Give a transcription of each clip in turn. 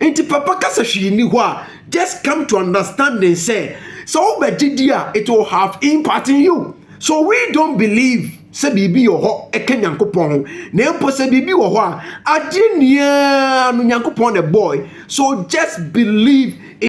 nti papa kasa hwee ni hɔ a just come to understanding sɛ sɛ wobɛgye di a it will have impact in you so we don't believe sɛ biribi wɔ hɔ ɛka nyankopɔn ho na mpo sɛ biribi wɔ hɔ a adeɛ nyinaa no nyankopɔn na ɛbɔe so just believe in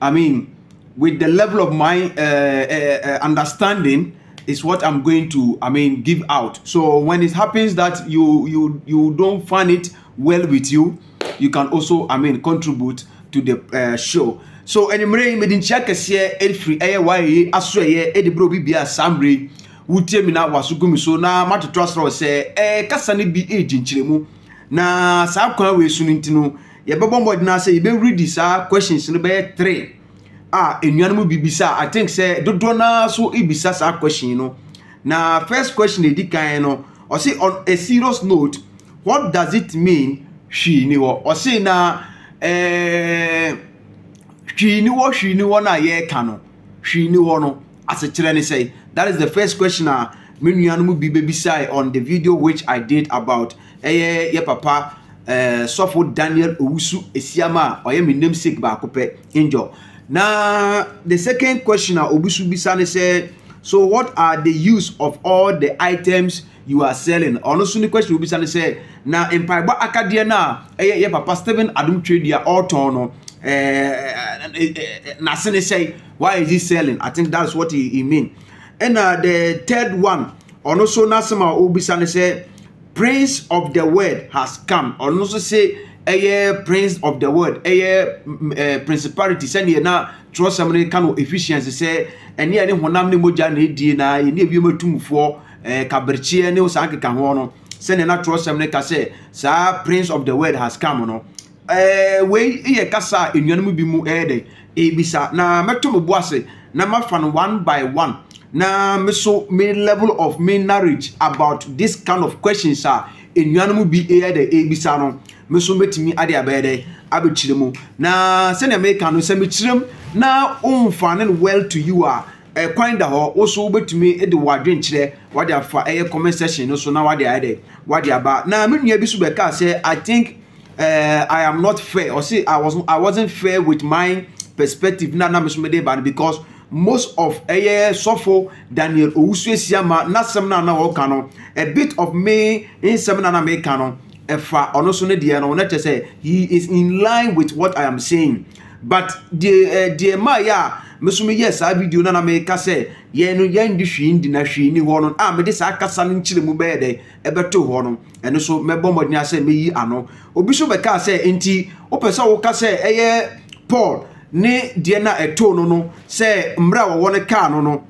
I mean, with the level of my uh, uh, uh, understanding, is what I'm going to, I mean, give out. So when it happens that you you you don't find it well with you, you can also, I mean, contribute to the uh, show. So anymore, mede nkyia kɛseɛ ɛfiri ɛyɛ waayɛ aso ɛyɛ ɛde berɛ obi bia saa mmerɛ yi wotie mi na waso gu mi so na matoto asorɔ sɛ ɛɛ kasa no bi ɛredi nkyerɛmu na saa kwan wei so no nti no Yɛbɛbɔ mmɔden ara sɛ yɛbɛredi saa questions no bɛyɛ three a nnuanom bi bisa I think sɛ dodoɔ no ara so bisa saa question no. Na first question a ɛdi kan no, ɔse on a serious note, what does it mean hwii ni hɔ? Ɔse na eh, hwii ni hɔ hwii ni hɔ no a yɛreka no, hwii ni hɔ no, Asekyerɛ ne sɛn? That is the first question a me nua no mu bi bɛbisae on the video which I did about ɛyɛ yɛ papa eh, Sɔfo Daniel Owusu Esiam a ɔyɛ me namesake baako pɛ, Angel. Na the second question a obi so bisa ne sɛ, so what are the use of all the items you are selling? Ɔno so ne question a obisa ne sɛ, na mpaebɔ akadeɛ no a ɛyɛ yɛ papa Stephen Adom Twedu a ɔretɔn no, eh, eh, eh, eh, n'ase ne sɛn? why is he selling i think that's what he, he mean ɛna the third one ɔno so n'asɛm a ɔbisa ne sɛ prince of the world has come ɔno nso se ɛyɛ prince of the world ɛyɛ eh, principality sɛdeɛ na twerɛsɛm no ka no efficiency sɛ ɛne ɛne honam ne mogya na ɛdie na ɛne ɛwiam atumfoɔ eh, kaberkyeɛ ne saa keka ho no sɛdeɛ na twerɛsɛm no ka sɛ saa prince of the world has come no Ɛɛ, wei yɛ kasa a nnuanom bi mu ɛyɛ dɛ ebisa, na mɛto me bo ase na mafa no one by one, na me nso me level of me knowledge about this kind of questions a nnuanom bi ɛyɛ dɛ ebisa no, me nso mɛtumi ade abɛyɛ dɛ abɛkyerɛ mu. Na sɛnea meka no, sɛ mekyerɛ mu na womfa no well to you a, ɛkwan da hɔ, wo nso wobɛtumi de w'adwenkyerɛ wade afa ɛyɛ comment section no so na wade ayɛ dɛ, wade aba. Na me nua bi nso bɛkaa sɛ, I think. eh, I am not fair. Or say I was I wasn't fair with my perspective na na mesome de ba no because most of ɛyɛ sɔfo Daniel Owusu Esiama n'asɛm na na ɔka no a bit of me nsɛm na na meka no ɛfa ɔno so ne deɛ no na kyerɛ sɛ he is in line with what I am saying but deɛ eh, deɛ maa yɛ a mesome yɛ saa video na na meka sɛ yɛn no yɛn de hwee ndi na hwee ni hɔ no a mede saa kasa no nkyerɛ mu bɛyɛ dɛ ɛbɛto hɔ no, ɛno nso mɛbɔ mmɔden asɛ meyi ano. Obi nso bɛkaa sɛ, nti wopɛ sɛ woka sɛ ɛyɛ Paul ne deɛ na ɛtoo no no sɛ mmerɛ a wɔwɔ no kaa no no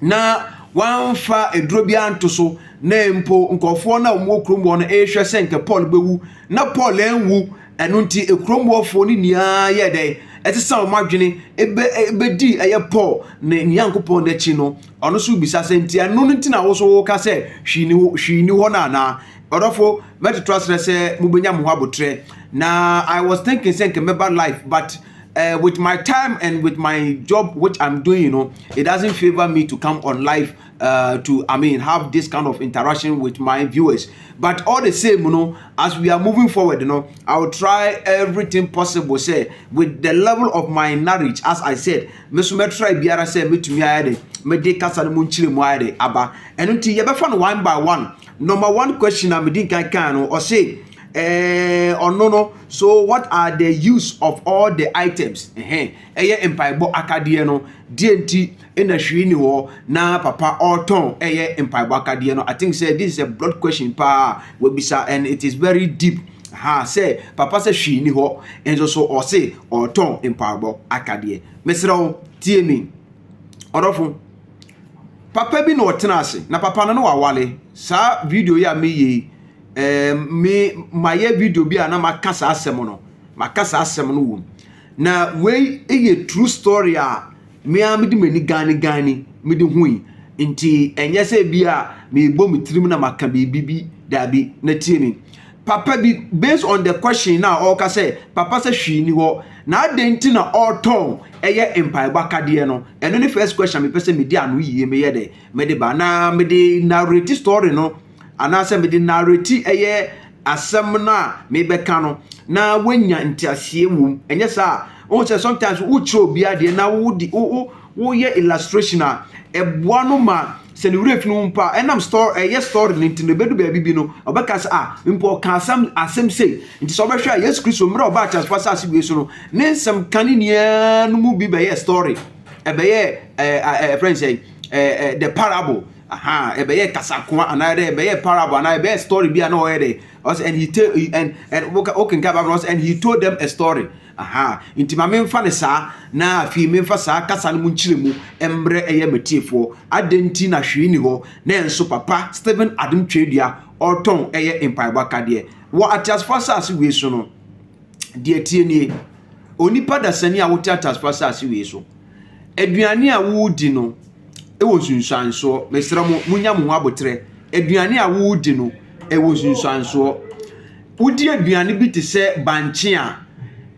na wɔamfa aduro biara nto so na mpo nkurɔfoɔ no a wɔwɔ kurom hɔ no rehwɛ sɛ nka Paul bɛwu na Paul anwu ɛno nti kurom hɔfoɔ no nyinaa yɛ dɛn ɛsesa wɔn adwene ɛbɛdii ɛyɛ Paul ne Nyankopɔn n'akyi no Ɔno nso bisa sɛ, Nti ɛno no nti na wo nso woka sɛ hwee ni hɔ, hwee ni hɔ no anaa? Ɔdɔfo, mɛtoto asrɛ sɛ mubenya mo ho aboterɛ. Na I was thinking sɛ nka mɛba life but uh, with my time and with my job which I'm doing no, it doesn't favor me to come on live uh, to, I mean, have this kind of interaction with my viewers. But all the same, no, as we are moving forward, no, I will try everything possible, say, with the level of my knowledge, as I said, Me nso mɛtrae biara sɛ mɛtumi ayɛ dɛ mede kasa no mu nkyerɛmu ayɛ dɛ aba. Ɛno nti yɛbɛfa no one by one. Number one question a medi nkan kan no, ɔse eh, ɔno no, so what are the use of all the items? Ɛhɛn, ɛyɛ mpaebɔ akadeɛ no, deɛ nti na hwee ni hɔ na papa ɔretɔn ɛyɛ mpaebɔ akadeɛ no? I think sɛ this is a broad question paa wabisa and it is very deep. Aha sɛ papa sɛ hwee ni hɔ nso so ɔse ɔɔtɔn mpaabɔ akadeɛ mesrɛ wo tie me ɔdɔfo papa bi na ɔtena ase na papa no no wawale saa video yi a meyɛ yi ɛɛ me mayɛ video bi a na maka saa asɛm no maka saa asɛm no wom na wei yɛ true story a Me ara mede m'ani ganneganne me de hui. Enti ɛnyɛ sɛ ebia merebɔ me tirim na maka biribi bi, dabi. Na tie me, papa bi, based on the question no a ɔreka sɛ, papa sɛ hwee nni hɔ, na adɛn nti na ɔretɔn ɛyɛ mpaebɔ akadeɛ no? Ɛno ne first question a mepɛ sɛ medi ano yie meyɛ dɛ, mede ba, na mede narrate story no. anaasɛ mede narrati ɛyɛ asɛm no a mebɛka no na woanya nteaseɛ wom. Ɛnyɛ saa a, wohu sɛ sometimes wokyerɛ obi adeɛ na wodi wo wo woyɛ illustration a ɛboa no ma sɛ ne werɛ fi no mpo a ɛnam story ɛyɛ story no nti no ɛbɛdu baabi bi no ɔbɛka sɛ a mpo ɔka asɛm asɛm sei nti sɛ ɔbɛhwɛ a Yesu Kristo mmerɛ ɔbaa teasefoɔ asase wei so no ne nsɛm ka ne nyinaa no mu bi bɛyɛ story ɛbɛyɛ ɛɛ ɛfrɛ ne sɛ ɛɛ the parable Ahaa ɛbɛyɛ kasakoa anaa dɛ ɛbɛyɛ parable anaa ɛbɛyɛ story bi a na ɔyɛ dɛ ɔsɛ and he tell and and woka wokenka bible ɔsɛ and he told them a story ahaa nti ma menfa ne saa na afei menfa saa kasa no mu nkyerɛmu mbrɛ ɛyɛ matiefoɔ adɛn nti na hwee ni hɔ na ɛnso papa Stephen Adom Twerɛdua ɔretɔn ɛyɛ mpaebɔ akadeɛ wɔ ateasefoɔ asase wei so no deɛ tie nie onipa dasani a wote ateasefoɔ asase wei so aduane a wodi no wɔ nsunsuansoɔ. Mesrɛ mo, monya mo ho aboterɛ. Aduane a woredi no, ɛwɔ nsunsuansoɔ. Wodi aduane bi te sɛ bankye a,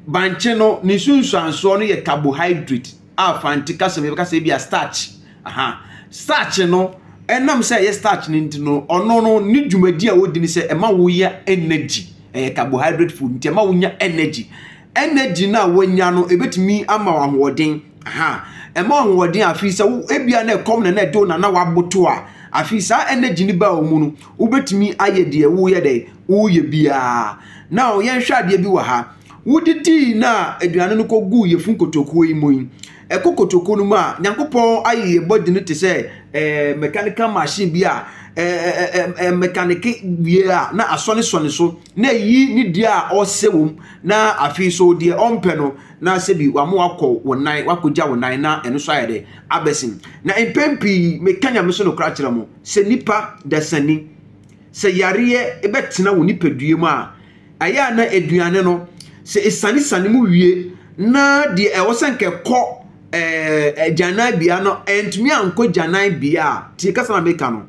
bankye no ne nsunsuansoɔ no yɛ carbohydrate a Fante kasa mu yɛbɛka sɛ ebi a starch. Aha. Starch no, ɛnam sɛ ɛyɛ starch no nti no, ɔno no ne dwumadi a wodi ne sɛ ɛma woyɛ energy. Ɛyɛ carbohydrate food nti ɛma wonya energy. Energy no a wanya no ebetumi ama wo ahoɔden. Aha, ɛma ahoɔden a afei sɛ wo ebia na ɛkɔm na na ɛde wo na na waboto a, afei saa energy no baa wo mu no, wobetumi ayɛ deɛ woyɛ dɛ, woyɛ biara. Na yɛnhwɛ adeɛ bi wɔ ha. Wodidii na aduane no kɔguu yɛfun kotokuo yi mu yi, ɛkɔ kotokuo no mu a, Nyankopɔn ayɛ yɛ body no te sɛ eh, mechanical machine bi a eh, eh, eh, mekanike wie a na asɔnesɔne so. na eyi ne deɛ a ɔsɛ wɔ mu, na afei nso deɛ ɔmpɛ no, na sɛbi wama wakɔ wo nan, wakɔgya wo nan, na ɛno nso ayɛ dɛ abɛsen. Na mpɛn pii, meka Nyame so nokorɛ akyerɛ mo, sɛ nnipa dasani, sɛ yareɛ bɛtena wo nipadua mu a, ɛyɛ a na aduane no, sɛ ɛsanesane mu wie, na deɛ ɛwɔ sɛ nka ɛkɔ ɛɛ agyananbea no, antumi ankɔ gyananbea a, tie kasa na meka no,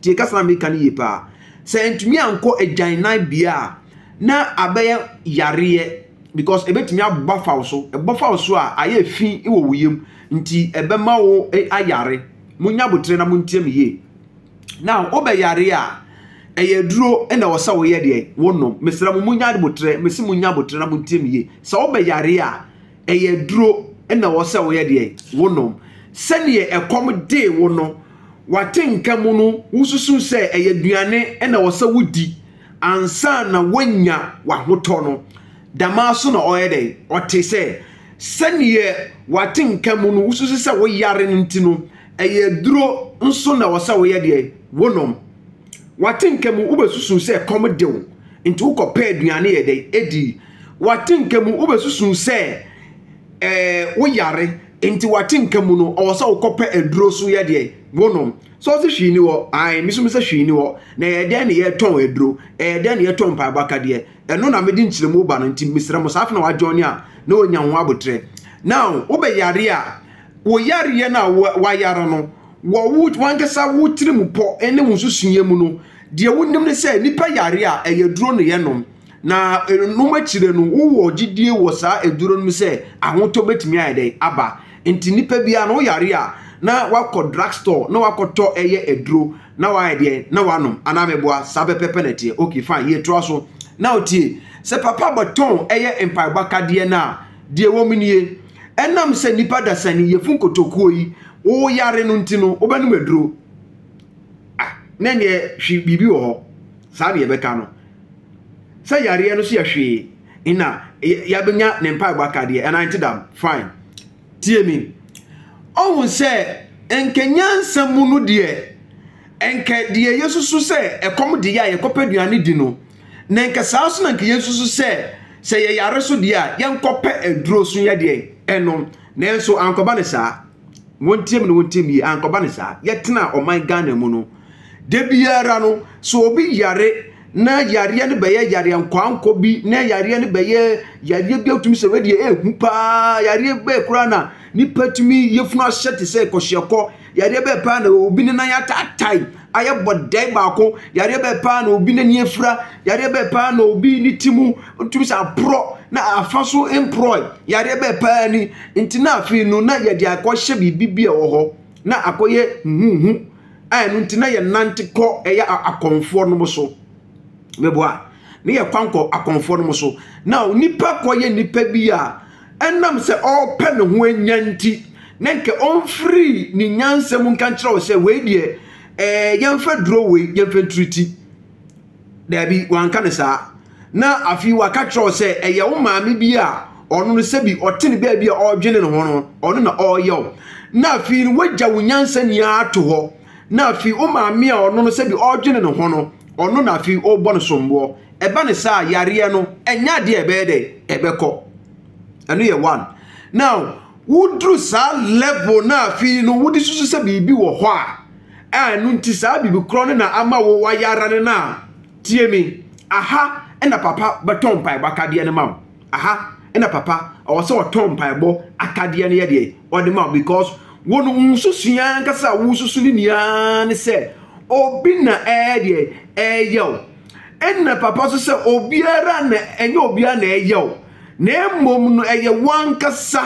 tie kasa na meka no yie paa, Sɛ antumi ankɔ agyananbea a, na abɛyɛ yareɛ because ɛbɛtumi abɔ afa wo so. Ɛbɔ fa wo so a, ayɛ fi wɔ wo yam nti ɛbɛma wo ayare. Monya aboterɛ na montie me yie. Now wobɛyare a, ɛyɛ aduro na ɛwɔ sɛ woyɛ deɛ wonom. Mesrɛ mo monya aboterɛ, mese monya aboterɛ na montie me yie. Sɛ wobɛyare a, ɛyɛ aduro na wɔ sɛ woyɛ deɛ wonom sɛdeɛ ɛkɔm dee wo no wate nka mu no wosusu sɛ ɛyɛ aduane na wɔ sɛ wodi ansa na woanya w'ahotɔ no damaa so na ɔyɛ dɛn ɔte sɛ sɛdeɛ wate nka mu no wosusu sɛ woyare no nti no ɛyɛ aduro nso na wɔ sɛ woyɛ deɛ wonom W'atenka mu, wobɛsusuu sɛ ɛkɔm de wo, nti wokɔpɛɛ aduane yɛ dɛn? Edii. W'atenka mu, wobɛsusuu sɛ ɛɛ wo yare, nti w'atenka mu no, ɔwɔ sɛ wokɔpɛ aduro so yɛ deɛn? Wonom. Sɛ ɔse hwee ni hɔ, ae, me nso mesɛ hwee ni hɔ. Na ɛyɛ dɛn na yɛtɔn aduro? Ɛyɛ dɛn na yɛtɔn mpaebɔ akadeɛ? Ɛno na mede nkyerɛmu ba no, nti mesrɛ mo, saa afei na w'adwɔne a na wanya ho aboterɛ. Now, wobɛyare a, wo yareɛ no a wayare no, wɔ wo wankasa wo tirim pɔ ne wo nsusuiɛ mu no, deɛ wonim ne sɛ nnipa yare a ɛyɛ duro na yɛnom. Na ɛnom akyire no, wowɔ gyidie wɔ saa aduro no mu sɛ ahotɔ bɛtumi ayɛ dɛn aba. Nti nnipa biara no woyare a na wakɔ drug store na wakɔtɔ ɛyɛ aduro na wayɛ deɛ na wanom anaa meboa saa pɛpɛpɛ na ɛteɛ. Ok fine yɛtoa so. Na otie sɛ papa bɛtɔn ɛyɛ mpaebɔ akadeɛ no a, Deɛ ɛwɔ mu nie, ɛnam sɛ nnipa dasani, yafunu kotokuo yi, woyare no nti no, wobɛnom aduro. Ah, na ɛneɛ hwe biribi wɔ hɔ, saa deɛ ɛbɛka no. Sɛ yareɛ no so yɛ hwee, nna yɛabɛnya ne mpaebɔ aka deɛ, anaa ɛnte dam? Fine. Tie me. Ɔhu sɛ, nka nyansa mu no deɛ, Anka deɛ yɛsusu sɛ ɛkɔm de yɛ a yɛkɔpɛ aduane di no, na anka saa nso na anka yɛnsusu sɛ sɛ yɛyare so deɛ a yɛnkɔpɛ aduro so yɛ deɛ ɛnom. Nanso ankɔba ne saa. Wɔntiam na wɔntiam yie, ankɔba ne saa. Yɛtena ɔman Ghana mu no, da biara no, sɛ obi yare na yareɛ no bɛyɛ yareɛ nkɔankɔ bi, na yareɛ no bɛyɛ yareɛ bi a wotumi sɛ wei deɛ ɛɛhu paa, yareɛ bɛɛ koraa na nipa tumi yafunu ahyɛ te sɛ kɔhyeɛkɔ. Yareɛ bɛɛ paa na obi ne nan ataatae ayɛ bɔdɛe baako? Yareɛ bɛɛ paa na obi n'ani afira? Yareɛ bɛɛ paa na obi ne ti mu tumi sɛ aporɔ na afa so mporɔe? Yareɛ bɛɛ paa ni? Nti na afei no na yɛde akɔhyɛ biribi bi a ɛwɔ hɔ na akɔyɛ huhuhu a ɛno nti na yɛnante kɔ ɛyɛ akɔmfoɔ nom so. meboa ne yɛ kwan kɔ akɔnfoɔ no mo so na nipa kɔ yɛ nipa bi a ɛnam sɛ ɔrepɛ ne ho anya nti na nka ɔmfiri ne nyansa mu nka nkyerɛ wo sɛ wei deɛ ɛɛ eh, yɛmfa duro wei yɛmfa ntiriti daabi wanka ne saa na afei waka kyerɛ wo sɛ ɛyɛ wo maame bi a ɔno no sɛbi ɔte ne baabi a ɔredwene ne ho no ɔno na ɔreyɛ wo na afei no wagya wo nyansa nyinaa ato hɔ Na afei wo maame a ɔno no sɛbi ɔredwene ne ho no, ɔno na afei worebɔ no somboɔ. Ɛba no saa a, yareɛ no, ɛnyɛ adeɛ a ɛbɛyɛ dɛn? Ɛbɛkɔ. Ɛno yɛ one. Now, woduru saa level no a afei no wode susu sɛ biribi wɔ hɔ a, a ɛno nti saa biribi korɔ no na ama wo wayare no no a, tie me, aha na papa bɛtɔ mpaebɔ akadeɛ no ma wo. aha na papa ɔwɔ sɛ ɔtɔn mpaebɔ atadeɛ no yɛ deɛ ɔde ma because wɔn nsusu yɛn ankasa a wosusu ne nyinaa ne sɛ obi na ɛyɛ deɛ ɛyɛ o ɛna papa nso sɛ obiara na ɛnyɛ obiara na ɛyɛ o na mmom no ɛyɛ wankasa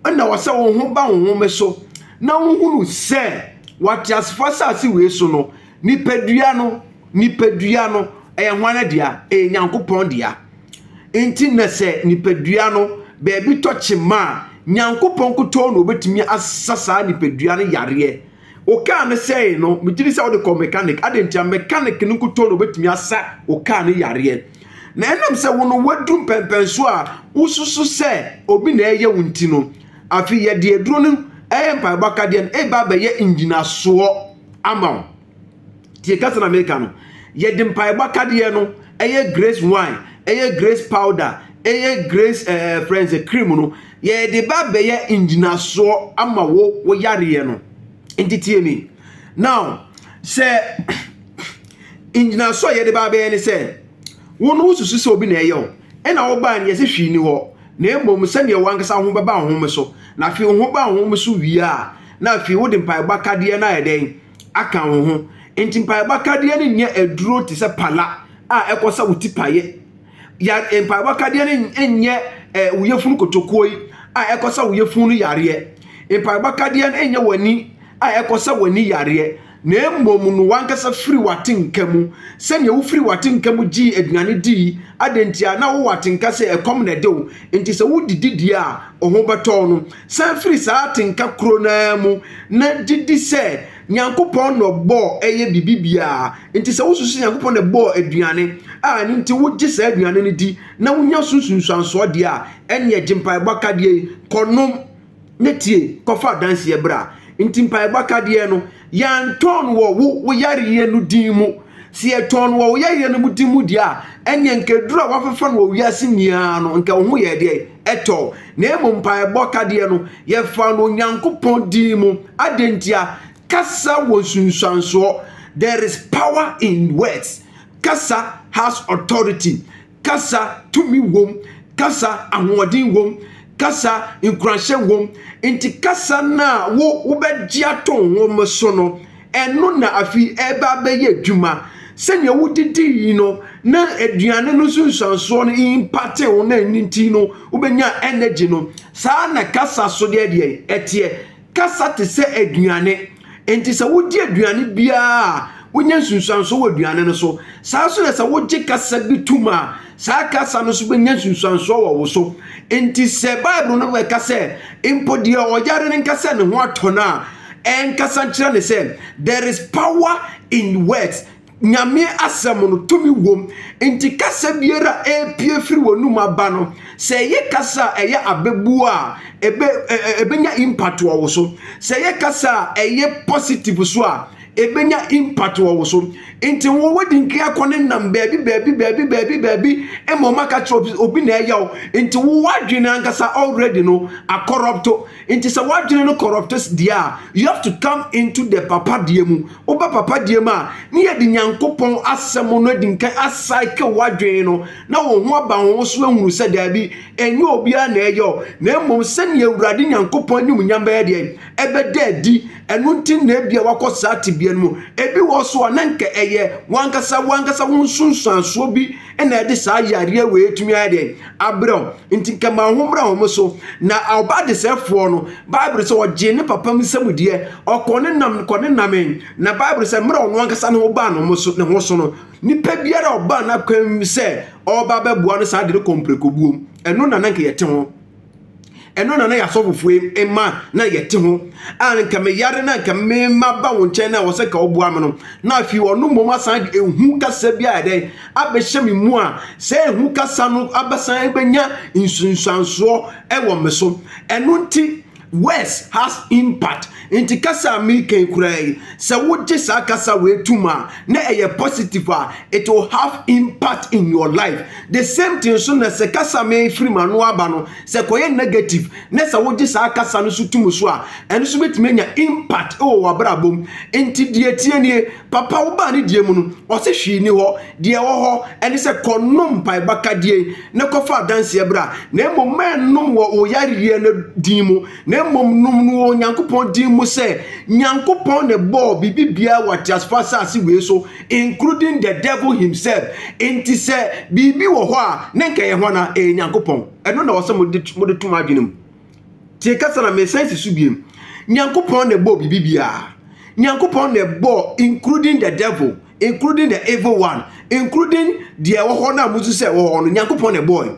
ɛna wɔ sɛ wo ho ba wo ho so na wohunu sɛ wate asefoɔ asase wei so no nipadua no nipadua no ɛyɛ hwan dea ɛyɛ nyankopɔn dea Enti na sɛ nipadua no baabi tɔ kyema a, Nyankopɔn nkutoo na obetumi asa saa nipadua no yareɛ. Wo kaa no sɛee no, megye di sɛ wode kɔ mechanic, adɛn ntia? Mechanic no nkutoo na obetumi asa wo kaa no yareɛ. Na ɛnam sɛ wo no wadu mpɛmpɛnso a wosusu sɛ obi na ɛreyɛ wo nti no, afei yɛde aduro no ɛyɛ mpaebɔ akadeɛ no reba abɛyɛ ngyinasoɔ ama wo. tie kasa na meka no yɛde mpaebɔ akadeɛ no ɛyɛ grace wine ɛyɛ grace powder ɛyɛ grace ɛɛ friends cream no yɛde ba bɛyɛ ngyinasoɔ ama wo wo yareɛ no nti tie mi now sɛ ngyinasoɔ yɛde ba bɛyɛ ne sɛ wo no wosusu sɛ obi na ɛyɛ o ɛna wobaa ne yɛsɛ hwii ni hɔ na mmom sɛdeɛ wankasa ho bɛba ho so na afei ho ba ho so wie a na afei wode mpaebɔ akadeɛ no ayɛ dɛn aka wo ho. Enti mpaebɔ akadeɛ no nyɛ aduro te sɛ pala a ɛkɔ sɛ wo ti paeɛ. Ya mpaebɔ akadeɛ no nyɛ eh, wo yafunu kotokuo yi a ɛkɔ sɛ wo yafunu no yareɛ. Mpaebɔ akadeɛ no nyɛ w'ani a ɛkɔ sɛ w'ani yareɛ, na mmom no w'ankasa firi w'atenka mu. Sɛdeɛ wofiri w'atenka mu gyee aduane di yi, adɛn ntia? Na wowɔ atenka sɛ ɛkɔm na ɛde wo, enti sɛ wodidi deɛ a, wo ho bɛtɔ wo no. San firi saa atenka koro no ara mu na gye di sɛ Nyankopɔn na ɔbɔɔ ɛyɛ biribi biara. Enti sɛ wosusu sɛ Nyankopɔn na ɛbɔɔ aduane a ɛno nti wogye saa aduane no di na wonya so nsunsuansoɔ deɛ a, ɛnneɛ gye Mpaebɔ Akadeɛ yi, kɔnom, na tie, kɔfa adanseɛ bra. Enti Mpaebɔ Akadeɛ no. Yɛantɔn no wɔ wo wo yareɛ no din mu. Sɛ yɛtɔn no wɔ wo yareɛ no mu din mu deɛ a, ɛnneɛ nka aduro a wɔafefa no wɔ wiase nyinaa no, nka wo ho yɛɛ deɛ ɛtɔ wo. Na mmom mpaebɔ kadeɛ no, yɛfaa no Onyankopɔn din mu. Adɛn ntia? Kasa wɔ nsunsuansoɔ. There is power in words. Kasa has authority. kasa tumi wom, kasa ahoɔden wom, kasa nkuranhyɛ wom. Nti kasa no a wo wobɛgye ato nwom so no, ɛno na afi ɛba abɛyɛ adwuma. Sɛnea wodidii no na aduane no nso nsuansoɔ no impate wo na ɛno nti no wobɛnya energy no, saa na kasa so deɛ deɛ ɛteɛ. Kasa te sɛ aduane, enti sɛ wodi aduane biara a, wonya nsunsuanso wɔ aduane no so. Saa ara nso na sɛ wogye kasa bi tom a, saa kasa no nso benya nsunsuanso wɔ wo so. Enti sɛ Bible no bɛka sɛ, Mpo deɛ ɔyare no nka sɛ ne ho atɔ no a, ɛnkasa nkyerɛ no sɛ, There is power in words. Nyame asɛm no tumi wom, nti kasa biara a ɛrepue firi w'anum aba no, sɛ ɛyɛ kasa a ɛyɛ abɛbuo a, ɛbɛ ɛbɛnya impact wɔ wo so. Sɛ ɛyɛ kasa a ɛyɛ positive so a, ɛbɛnya impact wɔ wo so. Nti wo wodi nka akɔ ne nam baabi baabi baabi baabi baabi ma ɔma ka kyerɛ obi na ɛyɛ wo. Nti wo w'adwene ankasa already no akɔrɔpto. Nti sɛ w'adwene no corrupts deɛ a, you have to come into the papa deɛ mu. Woba papa deɛ mu a, ne yɛde Nyankopɔn asɛm no adi nkan acycle w'adwene no na wo ho aba wo ho so ahunu sɛ daabi, ɛnyɛ obiara na ɛyɛ o, na mmom sɛnea Awurade Nyankopɔn animuonyam bɛyɛ deɛn? Ɛbɛda adi. Ɛno nti na ebia wakɔ saa tebea no mu. Ebi wɔ hɔ nso a, na nka ɛyɛ w'ankasa w'ankasa wo nsunsuansoɔ bi ɛna ɛde saa yareɛ wei tumi ayɛ deɛ abrɛ wo nti nka ma ho mmra wɔn so na ɔba desɛfoɔ no bible sɛ ɔgyee ne papa mu nsɛm deɛ ɔkɔ ne nam kɔ ne nam na bible sɛ mmerɛ ɔno ankasa ne ho baa no so ne ho so no nipa biara ɔbaa n'akwan sɛ ɔba bɛboa no saa de no kɔ mprekobuom ɛno na nanka yɛte ho ɛno na na yɛasɔfofoɔ mma na yɛte ho a nka meyare na nka mema ba wo nkyɛn na ɛwɔ sɛ nka woboa me no na afei ɔno mmom asan de ehu kasa bi a ɛdɛn abɛhyɛ me mu a sɛ ehu kasa no abɛsan bɛnya nsunsuansoɔ ɛwɔ me so ɛno nti words has impact Enti kasa a mereka yi koraa yi, sɛ wogye saa kasa wei tom a, na ɛyɛ positive a, it will have impact in your life. The same thing nso na sɛ kasa a mefiri m'ano aba no, sɛ kɔyɛ negative, na sɛ wogye saa kasa no nso tom so a, ɛno nso bɛtumi anya impact wɔ w'abrabɔ mu. Enti deɛ ɛteɛ nie, Papa wobaa ne deɛ mu no, ɔse hwee nni hɔ, deɛ ɛwɔ hɔ ne sɛ kɔnom mpaebɔ akadeɛ yi na kɔfa adanseɛ bra, na mmom mma ɛnnom wɔ wo yareɛ no din mu. na mmom nom no wɔ Onyankopɔn din mu sɛ Nyankopɔn na ɛbɔɔ biribi biara wɔ ateasefo asase wei so, including the devil himself. Enti sɛ biribi wɔ hɔ a, na nka ɛyɛ hwan a? Ɛyɛ Nyankopɔn. Ɛno na wɔsɛ mode mode to mo adwene mu. Tie kasa na mesan si so biem. Nyankopɔn na ɛbɔɔ biribi biara. Nyankopɔn na ɛbɔɔ including the devil. including the evil one including deɛ ɛwɔ hɔ no a musu sɛ ɛwɔ hɔ no nyankopɔn na ɛbɔɔe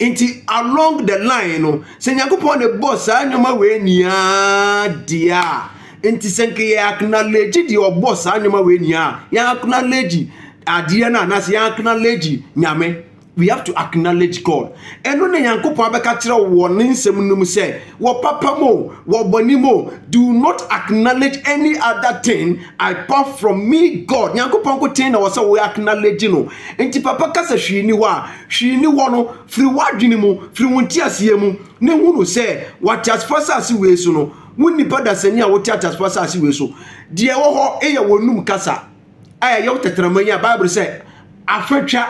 nti along the line no sɛ nyankopɔn na ɛbɔ saa nneɛma wei nyinaa deɛ a nti sɛ nka yɛ acknowledge deɛ ɔbɔ saa nneɛma wei nyinaa yɛ acknowledge adeɛ no anaasɛ yɛ acknowledge nyame We have to acknowledge God. Ɛno na Nyankopɔn abɛka kyerɛ wo wɔ ne nsɛm no mu sɛ, wɔ papa mu o, wɔ bɔne mu o, do not acknowledge any other thing apart from me God. Nyankopɔn nkoten na wɔ sɛ wo acknowledge no. Nti papa ka sɛ hwee ni hɔ a, hwee ni hɔ no, firi w'adwene mu, firi wo nteaseɛ mu, ne hunu sɛ wɔ ateasefoɔ asase wei so no, wo nnipa dasani a wote ateasefoɔ asase wei so, deɛ ɛwɔ hɔ yɛ w'anom kasa. a ɛyɛ wo tɛtrɛma yi a bible sɛ afatwa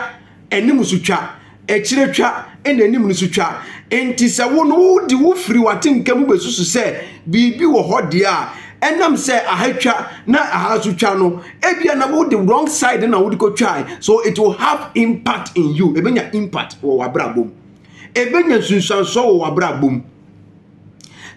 anim so twa akyire twa ɛna anim no so twa nti sɛ wo no wode wo firi w'atenka mu bɛsusu sɛ biribi wɔ hɔ deɛ a ɛnam sɛ aha twa na aha so twa no ebia na wode wrong side na wode kɔtwae so it will have impact in you ɛbɛnya impact wɔ w'abrabɔ mu ɛbɛnya nsunsuansoɔ wɔ w'abrabɔ mu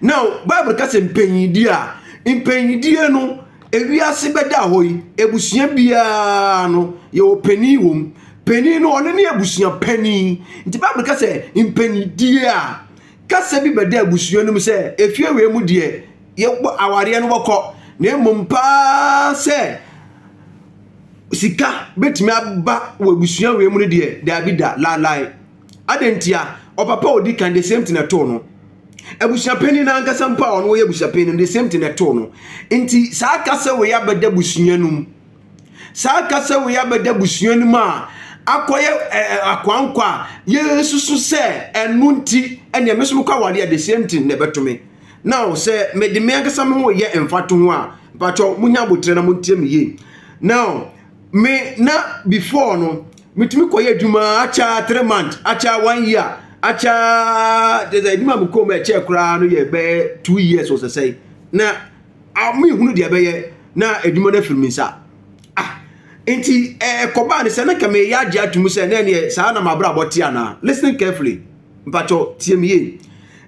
Now, Bible ka sɛ mpanyindie a, mpanyindie no, ewiase bɛda hɔ yi, abusua biara no, yɛwɔ panin wɔ mu. Panin no, ɔno ne abusua panin. Nti Bible ka sɛ mpanyindie a, kasa bi bɛda abusua no mu sɛ efie wei mu deɛ, yɛbɔ awareɛ no bɔkɔ. Na mmom paa sɛ sika bɛtumi aba wɔ abusua wei mu no deɛ, daabi da, laalae. Adɛn ntia? Ɔpapa a ɔdi kan, the same thing ɛtoo no. Abusuapanin no ankasa mpo a ɔno ɔyɛ abusuapanin no, the same thing ɛtoo no. Nti saa kasa wei abɛda abusua no mu. Saa kasa wei abɛda abusua no mu a akɔyɛ ɛɛ akwankwa a yɛsusu sɛ ɛno nti ɛnea me nso mekɔ aware a the same thing na ɛbɛto me. Now sɛ mede me ankasa me ho yɛ mfatoho a, mpakyɛw munya abotire na montie me yie. Now me na before no metumi kɔyɛ adwuma akyɛ three months akyɛ one year akyɛ te sɛ adwuma mi kɔn mu ɛkyɛ koraa no yɛ bɛyɛ two years wɔ sɛsɛe na mehunu deɛ bɛyɛ na adwuma no afiri me nsa ah nti ɛkɔbaa ne sɛ na ka meyɛ agye atum sɛ na ɛneɛ saa na mabrabɔ te anaa listening carefully mpakyɛ tie me yie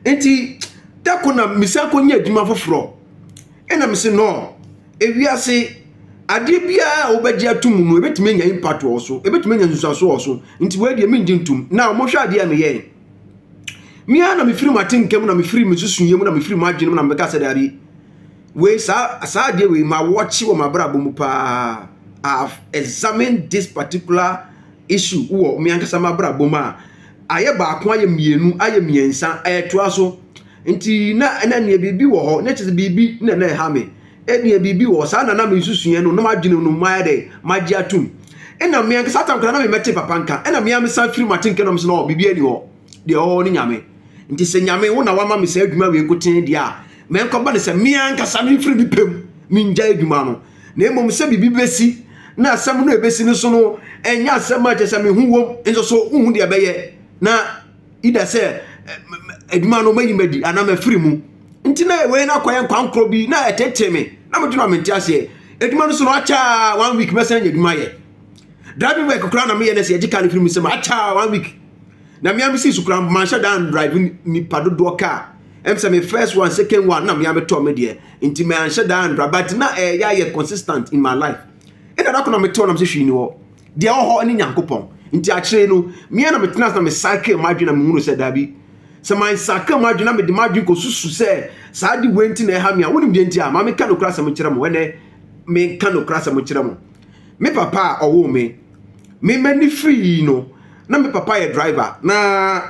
nti da ko na mesan kɔnya adwuma foforɔ ɛna mese no Ewiase adeɛ biara a wobɛgye atom no, ɛbɛtumi anya impact wɔ so, ɛbɛtumi anya nsusuanso wɔ so. Nti wei deɛ mengye ntom. Na wɔhwɛ adeɛ a meyɛe. Me ara na mefiri m'atenka mu na mefiri me susuiɛ mu na mefiri m'adwene mu na mebɛka sɛ daabi. Wei saa saa adeɛ wei ma wɔkye wɔ m'abrabɔ mu paa. I have examined this particular issue wɔ me ankasa m'abrabɔ mu a ayɛ baako ayɛ mmienu ayɛ mmiɛnsa ɛɛtoa so. Nti na na neɛ biribi wɔ hɔ, na kyerɛ biribi na na ɛha me. Ɛneɛ biribi wɔ hɔ, saa na na me nsusuiɛ no, na m'adwene no mayɛ dɛn, magye atom. Ɛna me ankasa tam koraa na memmɛte papa nka, ɛna me ara me san firi m'atenka na me se no biribiara nni hɔ, deɛ ɛwɔ hɔ ne Nyame. Nti sɛ Nyame wo na wama me saa adwuma wei nkotee deɛ a, ma ɛnkɔba no sɛ me ankasa memfiri me pɛ mu mengyae adwuma no, na mmom sɛ biribi bɛsi, na asɛm no a ɛbɛsi no nso no ɛnyɛ asɛm a kyerɛ sɛ me ho wom, nso so wonhu deɛ ɛbɛyɛ na. ida sɛ adwuma no mayi madi anaa mafiri mu nti na wei no akɔyɛ nkwankorɔ bi na ɛtetee me na medwe no a mente aseɛ adwuma no so no akyɛ one week mɛsan anya adwuma yɛ driving work koraa na meyɛ no sɛ yɛgye ka no firi mu sɛ akyɛ one week na mea mesi so koraa manhyɛ da drive nipa dodoɔ kaa ɛm sɛ me first one second one na mea metɔ me deɛ nti manhyɛ da andra but na ɛyɛ ayɛ consistent in my life ɛna da ko na metɔ nam sɛ hwii ni hɔ Deɛ ɔwɔ hɔ ne Nyankopɔn. Nti akyire no, me ara na metena ase na me cycle m'adwene na mehunu sɛ daabi. Sɛ my cycle m'adwene na mede m'adwene kɔsusu sɛ saa ade wei nti na ɛha me a, wonim deɛ nti a? Ma menka nokorɛ asɛm nkyerɛ mo, ɛnɛ menka nokorɛ asɛm nkyerɛ mo. Me papa a ɔwoo me, me m'ani firii no, na me papa yɛ driver, na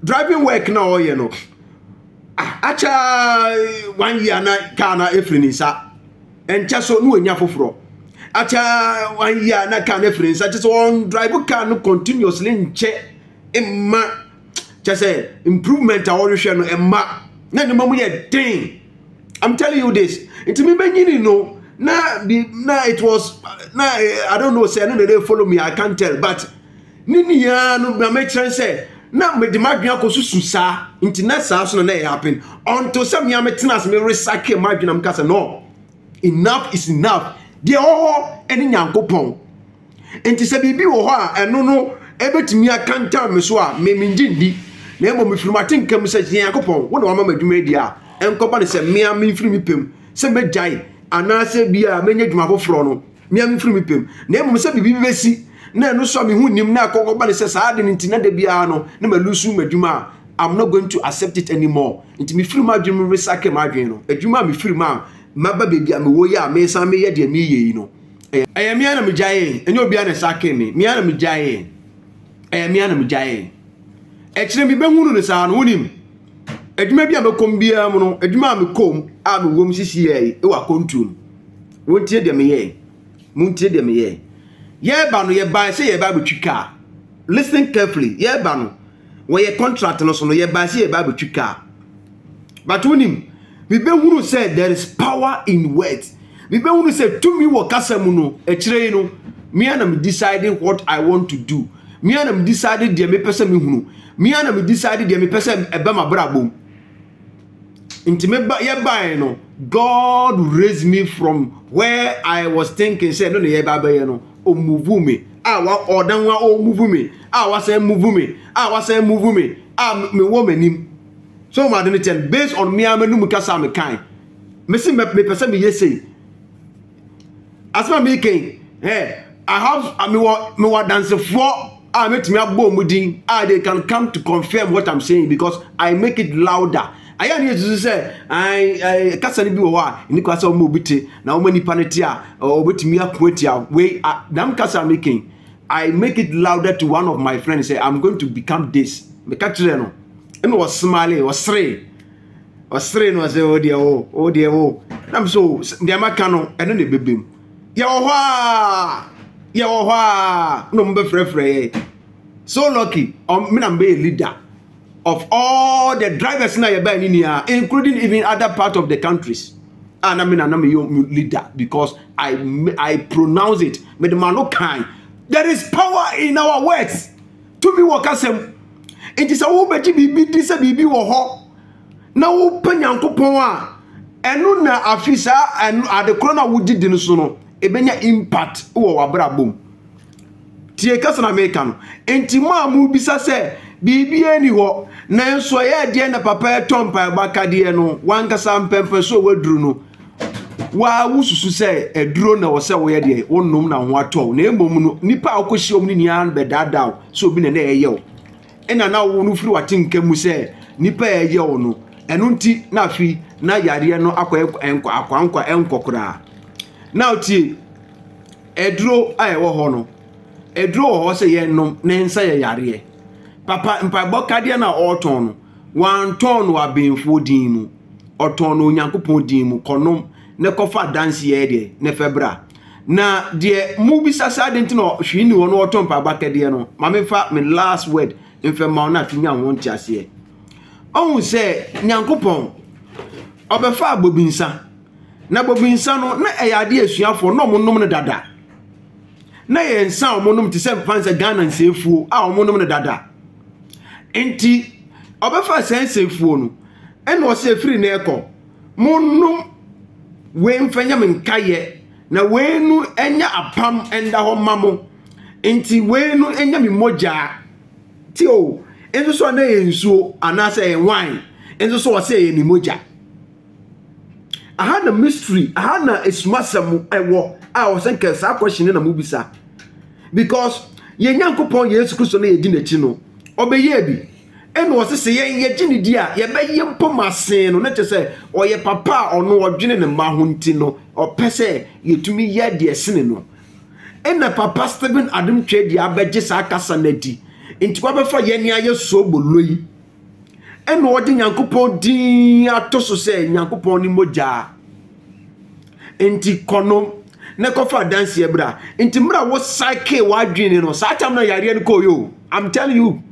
driving work na ɔreyɛ no, ah, akyɛ one year na kaa na ɛfiri ne nsa. Ɛnkyɛ so na wanya foforɔ. Akyɛ one year na car no afiri nsa kyɛ sɛ ɔndrive car no continuously nkyɛ mma kyɛ sɛ improvement a ɔhwehwɛ no ɛmma na nneɛma mu yɛ den. I'm telling you this. Nti me bɛnyini no na bi na it was na eh, I don't know sɛ ɛno na ɛde follow me I can't tell but Ne nyinaa ara no, na mekyerɛ no sɛ na mede m'adwene akɔsusu saa, nti na saa nso na na ɛyɛ happen. Until sɛ me ara metena ase meresake m'adwene a meka sɛ no, enough is enough. Deɛ ɛwɔ hɔ ne Nyankopɔn. Nti sɛ biribi wɔ hɔ a ɛno no ɛbɛtumi atantan me so a, me mengye ndi. Na mmom mefiri m'atenka mu sɛ, Nyankopɔn, wo na wama m'adwuma adi a, ɛnkɔba no sɛ me ara memfiri me pɛ mu sɛ mɛgyae anaasɛ bi a mɛnya adwuma foforɔ no. me ara mefiri me pɛ mu, na mmom sɛ biribi bɛsi na ɛno nso a me ho nnim na ɛkɔ kɔba no sɛ saa ade no nti na da biara no na malusu m'adwuma a, I'm not going to accept it anymore. Nti mefiri m'adwene mu resake m'adwene no. Adwuma a mefiri mu a maba baabi a mewɔ yi a mesan meyɛ deɛ mereyɛ yi no, ɛyɛ me ara na megyaee, ɛnyɛ obiara na ɛsakee me, me ara na megyaee, ɛyɛ me ara na megyaee. Akyire mebɛhunu no saa no, wonim, adwuma bi a mɛkɔ mu biara mu no, adwuma a mekɔ mu a mewɔ mu sisi yɛ yi wɔ akɔntuo mu. Wontie deɛ meyɛɛ. Montie deɛ meyɛɛ. Yɛreba no, yɛbae sɛ yɛreba abɛtwi kaa. Listen carefully. Yɛreba no, wɔyɛ contract no so no, yɛbae sɛ yɛreba abɛtwi kaa. But wonim, mebɛhunu sɛ there is power in words. Mebɛhunu sɛ tumi wɔ kasa mu no, akyire yi no, me ara na me decide what I want to do. Me ara na me decide deɛ mepɛ sɛ mehunu. Me ara na me decide deɛ mepɛ sɛ ɛba m'abrabɔ mu. nti me ba yɛ bae no god raise me from where i was thinking sɛ ɛno na yɛ ba bɛyɛ no ɔmuvu me a wa ɔdan wa ɔmuvu me a wasan muvu me a wasan muvu me a mewɔ m'anim so ma de ne kyɛn based on me a m'anum kasa a mekan mesi mepɛ sɛ meyɛ sei Asɛm a mereka yi, eh, I have, mewɔ mewɔ adansefoɔ a mɛtumi abɔ wɔn din a they can come to confirm what I'm saying because I make it louder. Ayɛ ne yɛsusu sɛ I, I, kasa no bi wɔ hɔ a ɛni kwa sɛ wɔma obi te na wɔma nipa no te a wɔbɛtumi ako atia wei dam kasa a meka yi. I make it louder to one of my friends sɛ I'm going to become this. Meka kyerɛ no ɛna ɔsmile, ɔseree. ɔseree no ɔsɛ o deɛ o o deɛ o nam so o deɛ maka no ɛno na ɛbɛbɛ mu yɛwɔ hɔ a yɛwɔ hɔ a na ɔmo bɛfrɛfrɛ yɛ so lucky ɔmo um, na mbɛyɛ leader of all the drivers na yɛbɛn ne nyinaa including even other part of the countries a ah, na me na na meyɛ leader because I I pronounce it mede ma no kan there is power in our words. Tumi wɔ kasa mu. Enti sɛ wobɛgye biribi di sɛ biribi wɔ hɔ na wopɛ Nyankopɔn a, ɛno na afi saa ade korɔ no a wogye di no so no, ɛbɛnya impact wɔ w'abrabɔ mu. Tie kasa na meka no. Enti mo a mobisa sɛ biribiara nni hɔ, nanso ɛyɛ deɛ na papa ɛtɔ mpaebɔ akadeɛ no, w'ankasa mpɛmpɛsoɔ waduru no, Waa wosusu sɛ aduro na ɛwɔ sɛ woyɛ deɛ wonom na ho atɔ wo na mmom no nipa a wokɔhyia wɔn no nyinaa no bɛdaadaa wo sɛ obi na na ɛyɛ wo ɛna na wo no firi w'atenka mu sɛ nipa a ɛyɛ wo no ɛno nti na afei na yareɛ no akɔ ɛnkɔ akwankwa ɛnkɔ koraa na wotie aduro a ɛwɔ hɔ no aduro wɔ hɔ sɛ yɛnom na ɛnsa yɛ yareɛ papa mpaebɔ kadeɛ no a ɔretɔn no Wɔantɔn no abenfoɔ din mu. Ɔtɔn no Onyankopɔn din mu. Kɔnom na kɔfa adanseɛ yɛ deɛ? Na fa bra. Na deɛ mobisa sɛ adɛn nti na hwee nni hɔ na ɔtɔ mpaaba kɛdeɛ no, ma memfa me last word mfa mma wo na afei nya ho nteaseɛ. Ɔhu sɛ Nyankopɔn ɔbɛfaa bobinsa, na bobinsa no na ɛyɛ adeɛ asuafoɔ na wɔnom no dada. Na yɛ nsa a wɔnom te sɛ mfa nsɛ Ghana nsafuo a wɔnom no dada. Enti ɔbɛfaa saa nsɛmfua no, ɛnna ɔse, Ɛfiri nnɛ rekɔ, monnom wei mfa nyɛ me nkaeɛ, na wei no nyɛ apam nda hɔ mma mo. Enti wei no nyɛ me mogya. Tio, nso so a na ɛyɛ nsuo anaasɛ ɛyɛ wine, nso so ɔse ɛyɛ ne mogya. Aha na mystery, aha na esumasɛm ɛwɔ a wɔ sɛ nkɛ saa question no na mo bisa. Because yɛn Nyankopɔn Yesu Kristo na yɛdi n'akyi no, ɔbɛyɛɛ bi. Ɛna ɔse sɛ yɛn yɛgye ne di a, yɛbɛyɛ mpo ma sen no. Ne kyɛ sɛ ɔyɛ papa a ɔno ɔdwene ne mma ho nti no, ɔpɛ sɛ yɛtumi yɛ deɛ ɛsene no. Ɛna papa Stephen Adom Twɛdi abɛgye saa kasa no adi. Nti wabɛfa yɛn ayɛ soobolo yi. Ɛna ɔde Nyankopɔn din ato so sɛ Nyankopɔn ne mogya. Nti kɔ no na kɔfa adanseɛ bra. Nti mmerɛ wo cycle w'adwene no saa tam na yareɛ no kɔɔ yo. I'm telling you.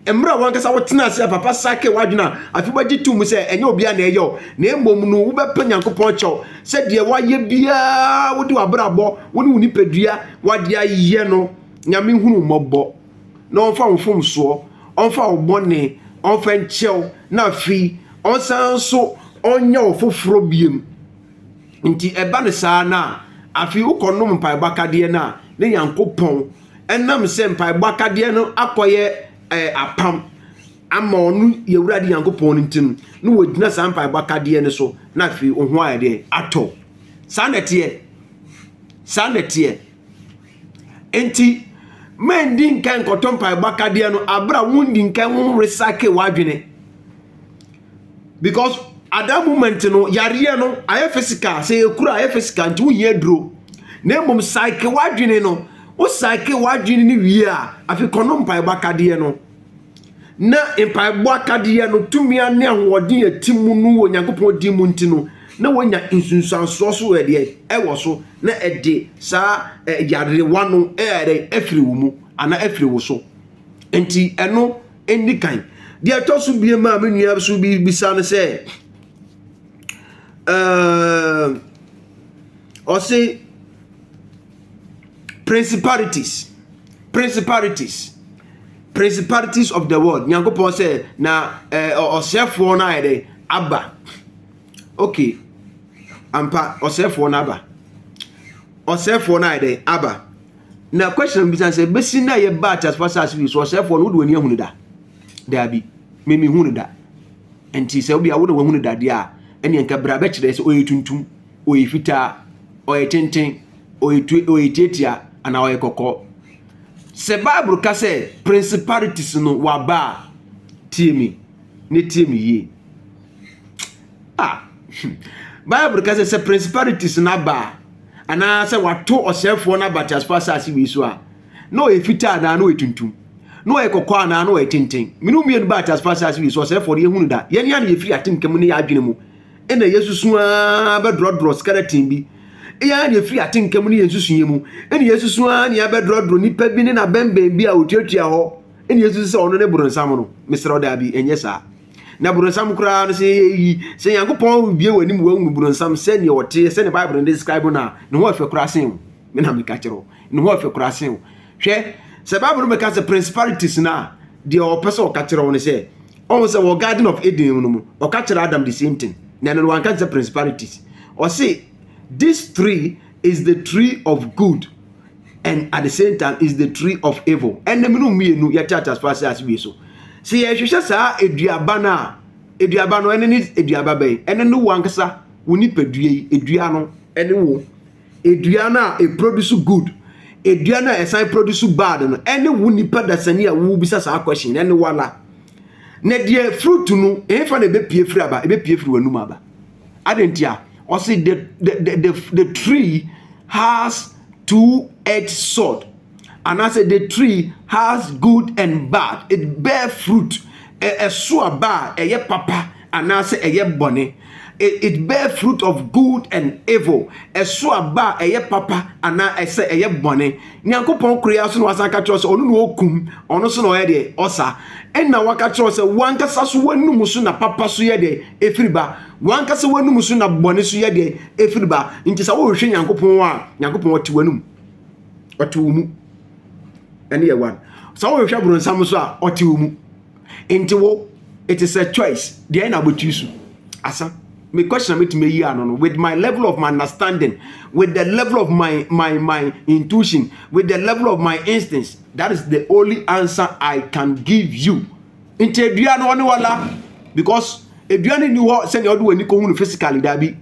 Mmerɛ wankasa wo tena ase a papa cycle w'adwene a afi wagye to mu sɛ ɛnyɛ obi a na ɛyɛ o. Na mmom no wobɛpɛ Nyankopɔn kyɛw sɛ deɛ wayɛ biara wode w'abrabɔ wo ne wo nipadua wade ayɛ no Nyame hunu mmɔbɔ. na ɔmfa wo mfomsoɔ ɔmfa wo bɔne ɔmfa nkyɛ wo na afei ɔnsan nso ɔnyɛ wo foforɔ biom nti ɛba no saa no a afei wokɔnom mpaebɔ akadeɛ no a ne nyankopɔn ɛnam sɛ mpaebɔ akadeɛ no akɔyɛ eh, apam ama ɔno yɛwurade nyankopɔn no nti no na wɔgyina saa mpaebɔ akadeɛ no so na afei wo ho ayɛ deɛ atɔ saa nɛteɛ saa nɛteɛ Enti, mma ndi nkan nkɔtɔ mpaebɔ akadeɛ no abere a wondi nkan wo recycle w'adwene. Because at that moment no, yareɛ no ayɛ physical, sɛ yɛkura ayɛ physical nti wohia duro. Na mmom cycle w'adwene no, wo cycle w'adwene no wie a, afei kɔnom mpaebɔ akadeɛ no. na mpaebɔ akadeɛ no tumi a ne ahoɔden a ɛte mu no wɔ Onyankopɔn din mu nti no, na wɔanya nsunsuansoɔ so ɛdeɛ ɛwɔ so na ɛde saa yarewa no ɛyɛ afiri wo mu anaa afiri wo so. Nti ɛno ɛni kan. Deɛ ɛtɔ so bie maa me nua so bi bisa no sɛ, ɔse principalities principalities principalities of the world nyankopɔn sɛ na ɛɛ ɔsɛfoɔ no ayɛ dɛ aba okay ampa ɔsɛfoɔ no aba ɔsɛfoɔ no ayɛ dɛ aba na question bi sɛ bɛsi na yɛ ba atasfa saase bi so ɔsɛfoɔ no wode w'ani ahunu da daabi mimi hunu da nti sɛ obi a wode w'ahunu dadeɛ a ɛne nka bra bɛkyerɛ sɛ ɔyɛ tuntum ɔyɛ fitaa, ɔyɛ tenten, ɔyɛ tue, ɔyɛ tiatia, anaa ɔyɛ kɔkɔɔ. Sɛ Bible ka sɛ principalities no waba a, tie me ne tie me yie. Ah, Bible ka sɛ sɛ principalities no aba a, anaa sɛ wato ɔsɛefoɔ no aba teasefoɔ asase wei so a, na ɔyɛ fitaa anaa na ɔyɛ tuntum na ɔyɛ kɔkɔɔ anaa na ɔyɛ tenten. Mene mmienu baa teasefoɔ asase wei so, ɔsɛefoɔ no yɛhunu da. Yɛn ne ano yɛfiri atemka mu ne yɛn adwene mu. na yɛasusu ara bɛdrɔdrɔ skeleton bi. Ɛyɛ ara na yɛfiri atenka mu ne yɛn nsusuiɛ mu na yɛasusu ara na yɛabɛdrɔdrɔ nipa bi ne n'abɛnbɛn bi a ɔtuatua hɔ na yɛasusu sɛ ɔno ne boronsam no. Mesrɛ wo daabi, ɛnyɛ saa. Na boronsam koraa no, sɛ yɛyɛ yi, sɛ Nyankopɔn rebue w'anim wahunu boronsam sɛdeɛ ɔteɛ, sɛdeɛ Bible no describe no a, ne ho ɛfɛ koraa sen wo. Me na meka kyerɛ wo, ne ho ɛfɛ koraa sen wo. Hwɛ, sɛ Bible no bɛka sɛ principalities no a, deɛ ɔpɛ sɛ ɔka kyerɛ wo no sɛ, ɔhu sɛ wɔ garden of eden no mu ɔka kyerɛ adam the same thing na ɛno no wanka sɛ principalities ɔse this tree is the tree of good and at the same time is the tree of evil ɛnna mu no mmienu yɛte atasefo ase ase wie so sɛ yɛhwehwɛ saa aduaba no a aduaba no ɛne ne aduaba bɛn ɛne ne wankasa wo nipadua yi adua no ɛne wo Aduan a e produce good, aduan a ɛsan produce bad no ɛne wo nipa dasani a wo bisa saa question no ɛne wala? Na deɛ fruit no ɛhefa na ɛbɛpie firi aba? Ɛbɛpie firi w'anum aba. Adɛn ntia? Ɔse the, the, the, the, the tree has two edged sword anaasɛ the tree has good and bad it bear fruit ɛso aba a ɛyɛ papa anaasɛ ɛyɛ bɔne, it bear fruit of good and evil, ɛso aba a ɛyɛ papa anaa ɛsɛ ɛyɛ bɔne. Nyankopɔn koro yi ara so na wasan aka kyerɛ sɛ ɔno na ɔkum, ɔno so na ɔyɛ deɛ ɔsa. Ɛna waka kyerɛ sɛ wankasa so w'anum so na papa so yɛ deɛ ɛfiri ba, wankasa w'anum so na bɔne so yɛ deɛ ɛfiri ba. Nti sɛ wohwehwɛ Nyankopɔn a, Nyankopɔn ɔte w'anum, ɔte wo mu. Ɛne yɛ one. Sɛ wohwehwɛ boronsam so a, ɔte wo mu. nti wo it is a choice deɛ na wobɛtumi so asa me question na mɛtumi ayi ano no with my level of my understanding with the level of my my my intuition with the level of my instincts that is the only answer i can give you nti adua no ɔne wala because adua no nni hɔ sɛdeɛ wode w'ani kɔhu no physically daabi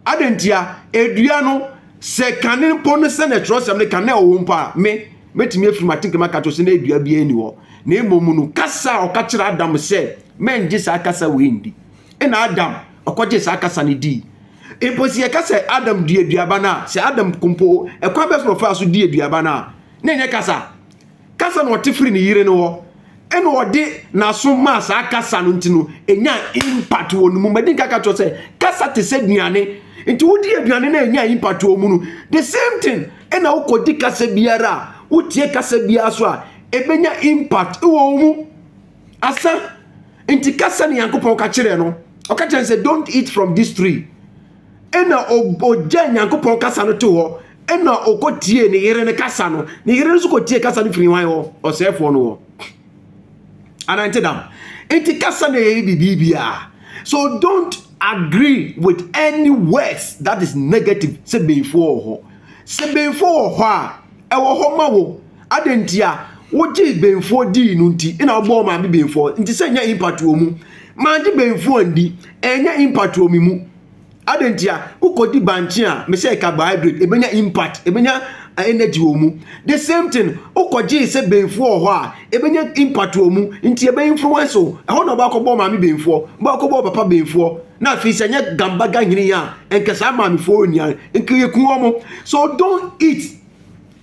Adɛn ntia? Dua no, sɛ kane mpo no sɛnea twerɛsɛm no ka na ɛwɔ hɔ mpo a, me, mɛtumi afiri m'atenka mu aka kyerɛ sɛ na dua biara nni hɔ. Na mmom no, kasa a ɔka kyerɛ Adam sɛ, Mɛngye saa kasa wei ndi. Ɛna Adam, ɔkɔgyee saa kasa no dii. Mpo sɛ yɛka sɛ Adam dii aduaba no a, sɛ Adam mpo, ɛkwan bɛn so na ɔfaa so dii aduaba no a, na ɛnyɛ kasa. Kasa na ɔte firi ne yere no hɔ ɛna ɔde n'aso maa saa kasa no nti no ɛnya impact wɔ ne mu madi nka ka kyerɛ sɛ kasa te sɛ aduane nti wodi aduane na ɛnya impact wɔ mu no the same thing ɛna wokɔdi kasa biara a wotie kasa biara so a ɛbɛnya impact wɔ wo mu asa nti kasa ne Nyankopɔn ka kyerɛ no ɔka kyerɛ sɛ don't eat from this tree ɛna ɔgya nyankopɔn kasa no to hɔ ɛna ɔkɔ tie ne yere no kasa no ne yere nso kɔ tie kasa no firi wan hɔ ɔsɛefoɔ no hɔ anante dam nti kasa na ɛyɛ biribiara so don't agree with any words that is negative sɛ bɛyifoɔ wɔ hɔ sɛ bɛyifoɔ wɔ hɔ a ɛwɔ hɔ ma wo Adɛn nti a wogyee benfoɔ dii no nti na wobɔɔ maame benfoɔ nti sɛ ɛnyɛ impact wɔ mu? Mangye benfoɔ anndi, ɛnyɛ impact wɔ me mu. Adɛn nti a wokɔdi bankye a me sɛ carbohydrate ɛbɛnya impact, ɛbɛnya energy wɔ mu? The same thing, wokɔgyee sɛ benfoɔ wɔ hɔ a ɛbɛnya impact wɔ mu nti ɛbɛ influence wo. Ɛhɔ na wobɛakɔbɔɔ maame benfoɔ, wobɛakɔbɔɔ papa benfoɔ. Na afei sɛ ɛnyɛ gambaga hene yi a, nka saa maamefoɔ nnuane nka yɛku wɔn. So don't eat.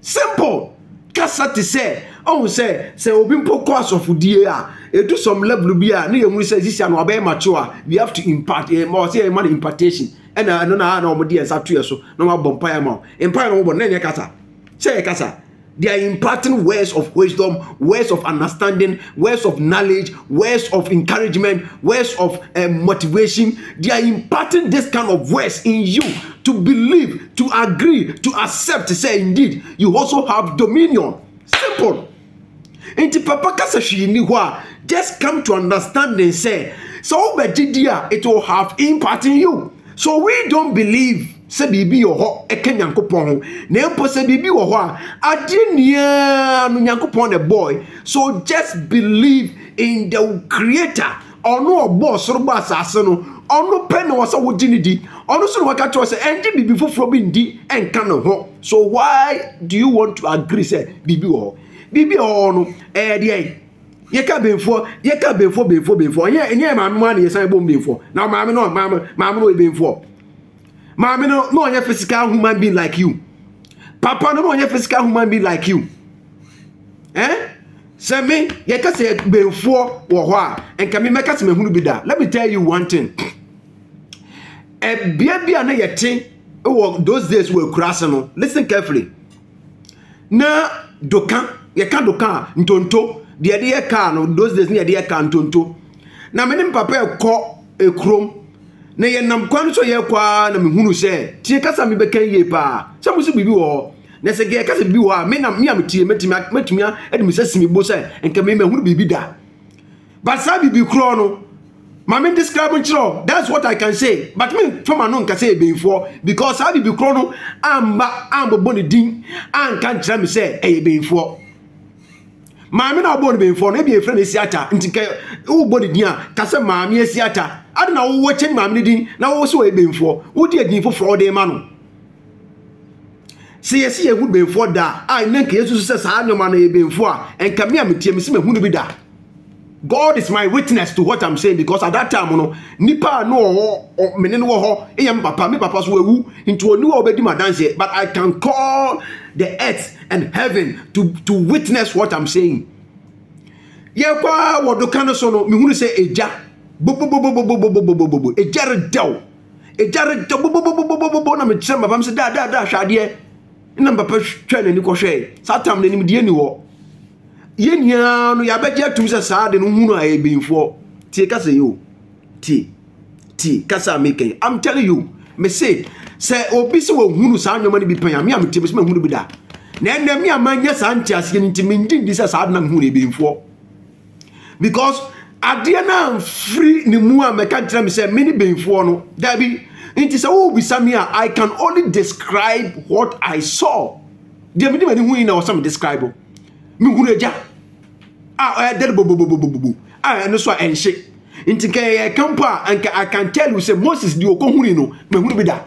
Simple kasa te sɛ ɔhu sɛ sɛ obi mpo kɔ asɔfodie a edu some level bi a ne yɛ hunu sɛ sisia no abɛyɛ mature a we have to impart yɛ ma ɔsɛ yɛ ma no impartation ɛna ɛno na na wɔn de yɛn nsa to yɛ so na wɔn abɔ mpaeɛ ma wɔn mpaeɛ na wɔn bɔ na ɛnyɛ kasa sɛ yɛ kasa they are imparting words of wisdom words of understanding words of knowledge words of encouragement words of uh, motivation they are imparting this kind of words in you to believe To agree, to accept sɛ indeed you also have dominion. Simple. Nti papa ka sɛ hwee nni hɔ a, just come to understanding sɛ sɛ wobɛgye di a it will have impact in you. So we don't believe sɛ biribi wɔ hɔ ɛka Nyankopɔn ho, na mpo sɛ biribi wɔ hɔ a, adeɛ nyinaa no Nyankopɔn na ɛbɔɔe. So just believe in the Creator. Ɔno a ɔbɔɔ soro bɔɔ asase no, ɔno pɛ na ɛwɔ sɛ wogye no di. Ɔno nso na waka kyerɛ wo sɛ ɛngye biribi foforɔ bi ndi nka ne ho. So why do you want to agree sɛ biribi wɔ hɔ? Biribi a ɛwɔ hɔ no, ɛyɛ deɛn? Yɛka benfoɔ, yɛka benfoɔ, benfoɔ, benfoɔ. Ɛnyɛ ɛnyɛ yɛ maame mu ara na yɛsan bom benfoɔ. Na maame no, maame, maame no ɔyɛ benfoɔ. Maame no na ɔnyɛ physical human being like you. Papa no na ɔnyɛ physical human being like you. Eh? Sɛ me yɛka sɛ benfoɔ wɔ hɔ a nka me mɛka sɛ mahunu bi da let me tell you one thing ɛbea eh, bi a na yɛte wɔ those days wɔ akura ase no listen carefully na doka yɛka doka a ntonto deɛ yɛde yɛ kaa no those days na yɛde yɛ kaa ntonto na me ne me papa ɛkɔ ekurom na yɛnam kwan no so yɛkɔ a na mehunu sɛ tie kasa mebɛka yie paa sɛ mo so biribi wɔ hɔ Na sɛ nka yɛka sɛ bi wɔ hɔ a, me na me a mete yɛ mɛtumi mɛtumi de me nsa si me bo sɛ nka me mahunu biribi da. But saa biribi korɔ no, ma me describe nkyerɛ that's what I can say. But me fa ma no nka sɛ ɛbɛyifoɔ because saa biribi korɔ no amba ambɔbɔ ne din anka nkyerɛ me sɛ ɛyɛ bɛyifoɔ. Maame na ɔbɔ ne bɛyifoɔ no, ebi efrɛ no esiata, nti kɛ wobɔ ne din a, ka sɛ maame esiata. Ade na wowɔ kyɛn maame ne din na wowɔ sɛ ɔyɛ bɛyifoɔ, wode edin foforɔ wode ma no. Sɛ yɛsi yɛn ho benfoɔ da a ɛnɛ nka yɛsusu sɛ saa nneɛma no yɛ benfoɔ a nka me a metie me si mahu no bi da God is my witness to what I'm saying because at that time no nipa a no ɔwɔ me ne no wɔ hɔ yɛ me papa me papa so wawu nti ɔni wɔ ɔbɛdi m'adanseɛ but I can call the earth and heaven to to witness what I'm saying yɛkɔ a wɔ do ka no so no mehunu sɛ egya bobobobobobobobobobo egya redɛw Egya redɔ bobobobobobobɔ na mekyerɛ papa me sɛ daa daa daa hwɛ adeɛ na me papa twɛ n'ani kɔhwɛe saa tam no animdeɛ ni hɔ yɛn nyinaa no yɛabɛgye atum sɛ saa de no hunu a ɛyɛ bɛyifoɔ tie kasa yi o tie tie kasa a meka yi I'm telling you me se sɛ obi sɛ wɔhunu saa nneɛma no bi pɛn a me a metie me sɛ mahunu bi da na ɛnɛ me a manyɛ saa nteaseɛ no nti mengye ndi sɛ saa de no mehunu ɛyɛ bɛyifoɔ because adeɛ no amfiri ne mu a mɛka nkyerɛ me sɛ me ne bɛnfoɔ no daabi nti sɛ wobisa me a i can only describe what i saw deɛ mede m'ani hui na ɔsɛ me describe o mehunu agya a ɛdɛre bobobobobobo a ɛno so a ɛnhye nti nka yɛyɛ ka mpo a nka i can tell you sɛ moses deɛ ɔkɔhuni no mahunu bi da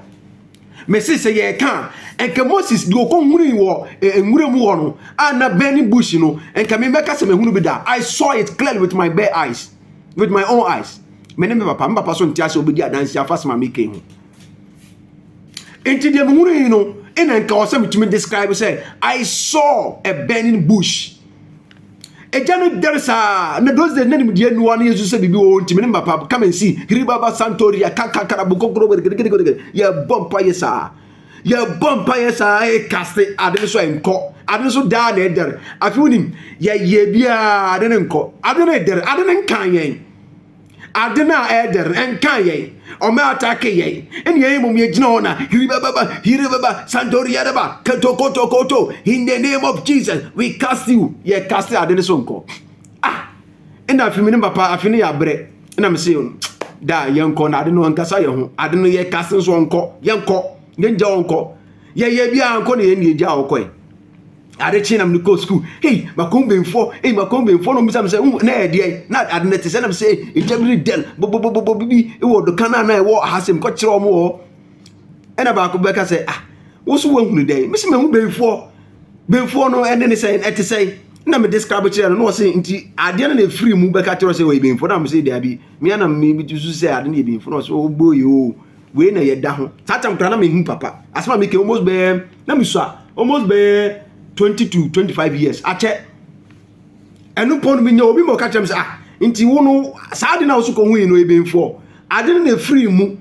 Mese sɛ yɛreka a, anka Moses deɛ ɔkɔhunui wɔ nwura mu hɔ no a na burning bush no, anka mebɛka sɛ mahunu bi da. I saw it clearly with my bare eyes, with my own eyes. Me ne me papa, me papa so nte ase ɔbɛdi adanse afa asɛm a meka ho. Nti deɛ mehunu yi no, ɛna nka ɔsɛ metumi describe sɛ I saw a burning bush. Agya no dɛre saa na those days na nimdeɛ nni hɔ a na yɛsu sɛ biribi wɔ hɔ nti me ne papa come and see hiribaba santoria kankakara bokokoro gɛdɛgɛdɛgɛdɛgɛ yɛbɔ mpaeɛ saa yɛbɔ mpaeɛ saa ɛkaste ade no so a ɛnkɔ ade no so daa na ɛdɛre afei wonim yɛyɛ biara ade no nkɔ ade no ɛdɛre ade no nkan yɛn ade no a ɛɛdɛ no ɛnkaa yɛn ɔmɛ atake yɛn ɛne yɛn mmom yɛgyina hɔ na hiribababa hiribaba santoriadaba ketokotokoto in the name of jesus we cast you yɛ cast ade no so nkɔ ah ɛna afi me ne papa afi no yɛ abrɛ ɛna me se da yɛnkɔ na ade no ankasa yɛ ho ade no yɛ cast nso ɔnkɔ yɛnkɔ yɛngya ɔnkɔ yɛyɛ biara nkɔ na yɛn ne yɛgya ɔkɔe Ade kye na mede kɔɔ sukuu. Hei, makɔn bɛnfoɔ, ei, makɔn bɛnfoɔ na ɔmmisa me sɛ, wo, na ɛdeɛ, na ade no te sɛ, na me sɛ, ɛgya bi ne dɛn, bɔbɔbɔbɔ bibi wɔ doka no a na ɛwɔ ha sɛ mekɔkyerɛ wɔn wɔ hɔ. Ɛna baako bɛka sɛ, ah, wo so woahunu dɛn? Me sɛ mahu bɛnfoɔ. Bɛnfoɔ no ɛne ne sɛn, ɛte sɛn? Na me describe kyerɛ no, na ɔse, nti adeɛ no na ɛfiri mu bɛka kyerɛ sɛ ɔyɛ bɛnfoɔ, na me sɛ daabi, me ara na mesusu sɛ ade no yɛ bɛnfoɔ, na ɔse, oh boy, oh. Wei na yɛ da ho. Saa tam kura na me hu papa. Asma mi ke almost bɛɛ na me sua almost bɛɛ 20 to 25 years. Akyɛ. Ɛno pɔn mi nya obi ma ɔka kyerɛ me sɛ ah nti wo no saa de na wo so kɔ hu yi no ebenfoɔ. Ade no na efiri mu.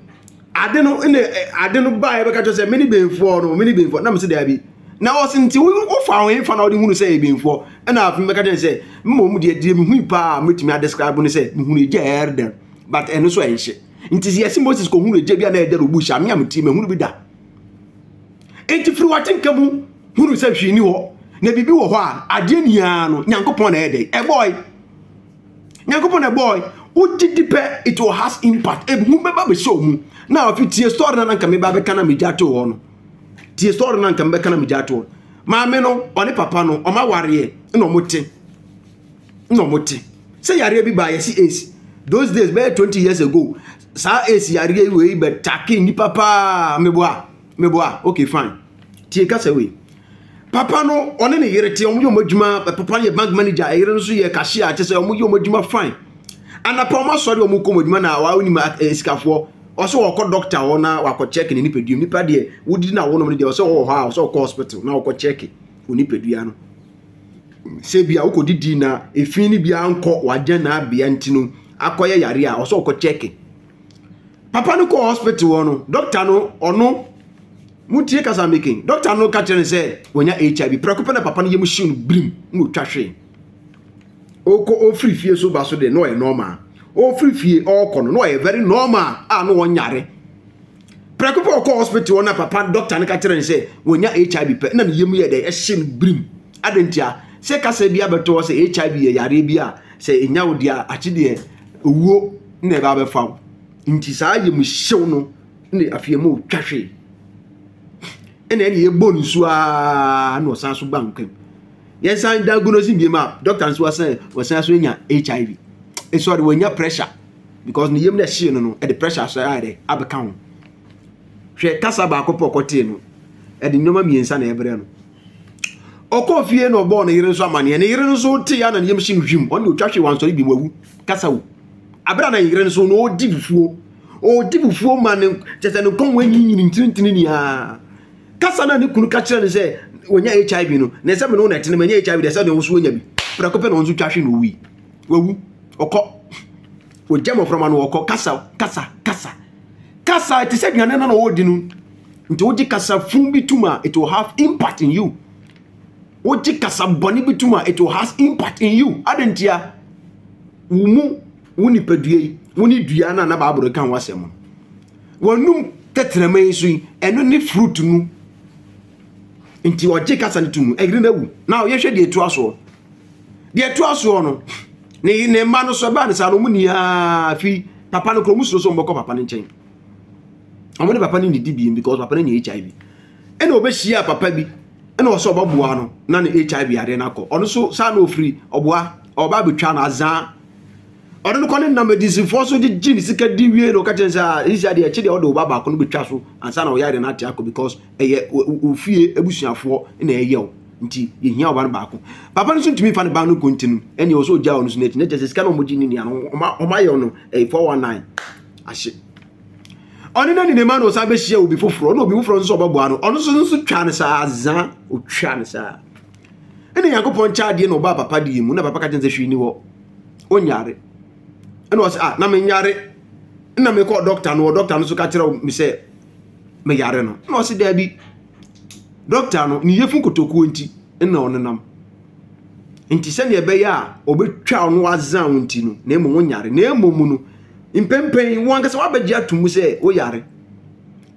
Ade no na ade no ba ɛbɛka kyerɛ sɛ me ne benfoɔ no me ne benfoɔ na me se daabi. Na ɔse nti wo wo fa ho fa na ɔde hunu sɛ ebenfoɔ. Ɛna afei mɛka kyerɛ sɛ mmom deɛ deɛ me hui paa metumi a describe ne sɛ me hunu egya ɛrder but ɛno so ɛnhye. Nti yɛse Moses kɔhunu egya bi a na ɛdɛre obu hyɛ ameam ti mahunu bi da. Enti firi w'atenka mu hunu sɛ hwee ni hɔ na biribi wɔ hɔ a adeɛ niaa no Nyankopɔn na ɛyɛ dɛn ɛbɔɔe. Nyankopɔn na ɛbɔɔe. Wogye di pɛ it will has impact. Ehu bɛba bɛhyɛ wo mu. Na afei tie story na nanka meba bɛka na megya to hɔ no. Tie story na nanka mebɛka na megya to hɔ. Maame no ɔne papa no ɔma wareɛ na ɔmo te. na ɔmo te sɛ yareɛ bi baa yɛsi aids those days bɛyɛ twenty years ago saa aids yareɛ yi wei bɛ take nipa paa meboa meboa okay fine tie kasa wei papa no ɔne ne yere te ɔmo yɛ ɔmo adwuma papa no yɛ bank manager ɛyere no so yɛ cashier kyɛ sɛ ɔmo yɛ ɔmo adwuma fine anapa ɔmo asɔre ɔmo kɔ ɔmo adwuma na wɔn anim sikafoɔ ɔsɛ wɔkɔ doctor hɔ na wakɔ check ne nipadua nipa deɛ wodidi na wɔnom no deɛ ɔsɛ wɔwɔ hɔ a ɔsɛ wɔkɔ hospital na wɔkɔ check onipadua no. sɛ bi a wokɔ didi na efi no biara nkɔ wagya na abea nti no akɔyɛ yare a ɔsɛ ɔkɔ kyɛke papa no kɔ hospital hɔ no dɔkta no ɔno motie kasa making dɔkta no ka kyerɛ no sɛ wɔnya hiv prɛko pɛ na papa no yɛm hyew no birim na ɔtwa hwee ɔkɔ ɔfiri fie so ba so deɛ na ɔyɛ normal ɔfiri fie ɔkɔ no na ɔyɛ very normal a na ɔnyare Prɛko pɛ ɔkɔɔ hospital hɔ na papa doctor no ka kyerɛ no sɛ wɔnya HIV pɛ na ne yam yɛ dɛ ɛhye no birim. Adɛn ntia? Sɛ kasa bi abɛto hɔ sɛ HIV yɛ yareɛ bi a sɛ ɛnya wo deɛ a akye deɛ owuo na ɛba abɛfa wo. Nti saa yam hyew no na afei ɛma ɔtwa hwee. Ɛna ɛne ɛbɔ ne su aa na ɔsan so ba nkwa mu. Yɛnsan diagnose biem a doctor nso asan wɔsan so anya HIV. Ɛsɔre wɔnya pressure. because ne yam na ɛhyee no no ɛde pressure so ayɛ dɛ abɛka ho hwɛ kasa baako pɛ ɔkɔtee no ɛde nneɛma mmiɛnsa na ɛbrɛ no ɔkɔɔ fie na ɔbɔɔ ne yere nso amaneɛ ne yere nso te ya na ne yam hye no hwim ɔne ɔtwa hwee wansɔre bi wawu kasa wu abere a na yere nso na ɔdi fufuo ɔdi fufuo ma ne kyɛ sɛ ne kɔn mu anyinyini ntinintini niaa kasa na ne kunu ka kyerɛ no sɛ wɔnya hiv no na ɛsɛ me no na ɛtene manya hiv deɛ sɛ deɛ wo so anya bi prɛko pɛ na ɔnso twa hwe na ɔwui Wawu. Ɔkɔ. Ogya mmɔframma no ɔkɔ. Kasa, kasa, kasa. Kasa te sɛ aduane no na ɔredi no. Nti wogye kasa fun bi tum a, it will have impact in you. Wogye kasa bɔne bi tum a, it will have impact in you. Adɛn ntia? Wo mu, wo nipadua yi, wo ne dua no a na Bible ka ho asɛm no. W'anum tɛtrɛma yi so yi, ɛno ne fruit no. Nti ɔgye kasa no tum no, ɛyere no awu. Na yɛhwɛ deɛ ɛtoa soɔ. deɛ ɛtoa soɔ no ne ne mma no so ɛbaa no saa no ɔmo nyinaa fi papa no kora ɔmo suro sɛ ɔmo bɛkɔ papa no nkyɛn ɔmo ne papa no nidi biem because papa no nya hiv ɛna ɔbɛhyia papa bi ɛna ɔsɛ ɔbɛboa no na ne hiv adeɛ no akɔ ɔno so saa na ɔfiri ɔboa ɔba abɛtwa no azaa ɔno no kɔ ne nam adizifoɔ so gyegye ne sika di wie na ɔka kyɛn sɛ ɛsi adeɛ ɛkye deɛ ɔde ɔba baako no bɛtwa so ansa na ɔyɛ adeɛ no ate akɔ because ɛyɛ ofie abusuafoɔ na ɛyɛ o nti yɛhia ɔba no baako papa no so ntumi fa ne ba no kɔ nti no ɛne ɔsɛ ɔgya ɔno so no akyi na kyɛ sɛ sika no ɔmogye ne nua no ɔmayɛ no ɛyɛ 419 ahye ɔne no nenema na ɔsan bɛhyia obi foforɔ na obi foforɔ nso ɔbɛboa no ɔno nso nso twa no saa za ɔtwa no saa ɛne nyankopɔn kyɛ adeɛ na ɔbaa papa deɛ mu na papa ka kyɛn sɛ hwee ni hɔ ɔnyare ɛna ɔsɛ ah na menyare na mekɔɔ dɔkta no ɔ dɔkta no nso ka kyerɛ me sɛ meyare no na ɔsɛ daabi Dɔkta no, ne yafunu kotokuo nti na ɔnenam. Nti sɛdeɛ ɛbɛyɛ a ɔbɛtwa wo no wazan wo nti no, na mmom wonyare. Na mmom mu no, mpɛmpɛn wo ankasa wabɛgye ato mu sɛ woyare.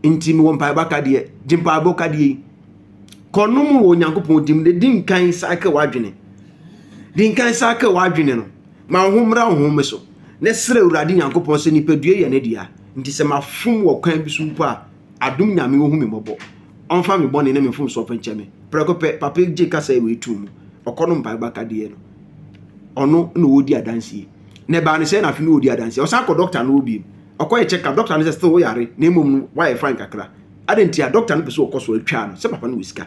Nti mewɔ mpaebɔ akadeɛ, gye mpaebɔ kadeɛ yi. Kɔnom wɔ Onyankopɔn dim de di nkan sake w'adwene. Di nkan sake w'adwene no, ma wo ho mmra wo ho so, na srɛ Awurade Nyankopɔn sɛ nipadua yɛ ne dea. Nti sɛ mafom wɔ kwan bi so mpo a, Adom Nyame ohu me mmɔbɔ Ɔmfa me bɔne ne me mfomsoɔ mfa nkyɛ me Prɛko pɛ papa yi gye kasaɛ wei to mu Ɔkɔ no mpaebɔ akadeɛ no Ɔno na ɔdi adanseɛ Na ɛbaa no sɛɛ na afe no ɔdi adanseɛ Ɔsan kɔ dɔkta no hɔ biom Ɔkɔyɛ check up Dɔkta no sɛ still wo yare Na mmom no wayɛ fine kakra Adɛn nti a dɔkta no pɛ sɛ ɔkɔ so a Ɛtwaa no sɛ papa no wɔ sika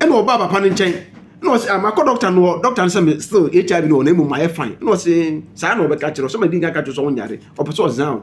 Ɛna ɔbaa papa no nkyɛn Ɛna ɔse ah makɔ dɔkta no hɔ Dɔkta no sɛ me still HIV no wɔ na mmom mayɛ fine Ɛna ɔse saa na ɔbɛka kyerɛ wo Sɛ madi nka aka kyerɛ wo sɛ wonyare Ɔpɛ sɛ ɔzaa wo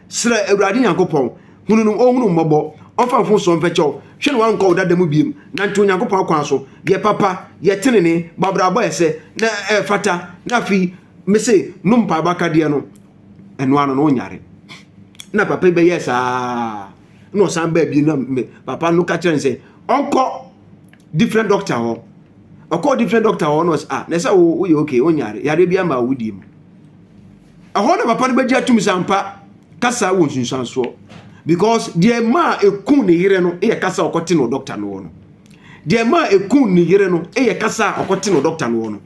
Srɛ Awurade Nyankopɔn, hunu no, ɔnhunu wo mmɔbɔ, ɔmfa mfomsoɔ mfɛkyɛ wo, hwɛ na woankɔ wo dada mu bio, nante Onyankopɔn akwan so, yɛ papa, yɛ tenenee, bɔ abrabɔ a ɛsɛ, na ɛfata, na afei, mese, nom mpaebɔ akadeɛ no, ɛno ano no wonyare. Na papa yi bɛyɛɛ saa, na ɔsan baa bio, na papa no ka kyerɛ no sɛ, ɔnkɔ different doctor hɔ, ɔkɔɔ different doctor hɔ, na ɔsɛ, ah, na ɛsɛ woyɛ okay, wonyare, yareɛ bi ama wo wodie mu. Ɛhɔ na papa no bɛgye atum sɛ ampa kasa wɔ nsunsuansoɔ because deɛ maa ɛku ne yere no yɛ kasa a ɔkɔte no dɔkta no hɔ no deɛ maa ɛku ne yere no yɛ kasa a ɔkɔte no dɔkta no hɔ no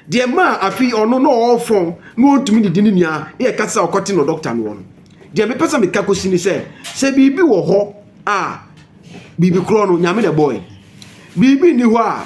deɛ maa afei ɔno na ɔrefɔn na ɔntumi didi ne nua yɛ kasa a ɔkɔte no dɔkta no hɔ no deɛ mepɛ sɛ meka kɔsi ne sɛ sɛ biribi wɔ hɔ a biribi korɔ no nyame na ɛbɔe biribi nni hɔ a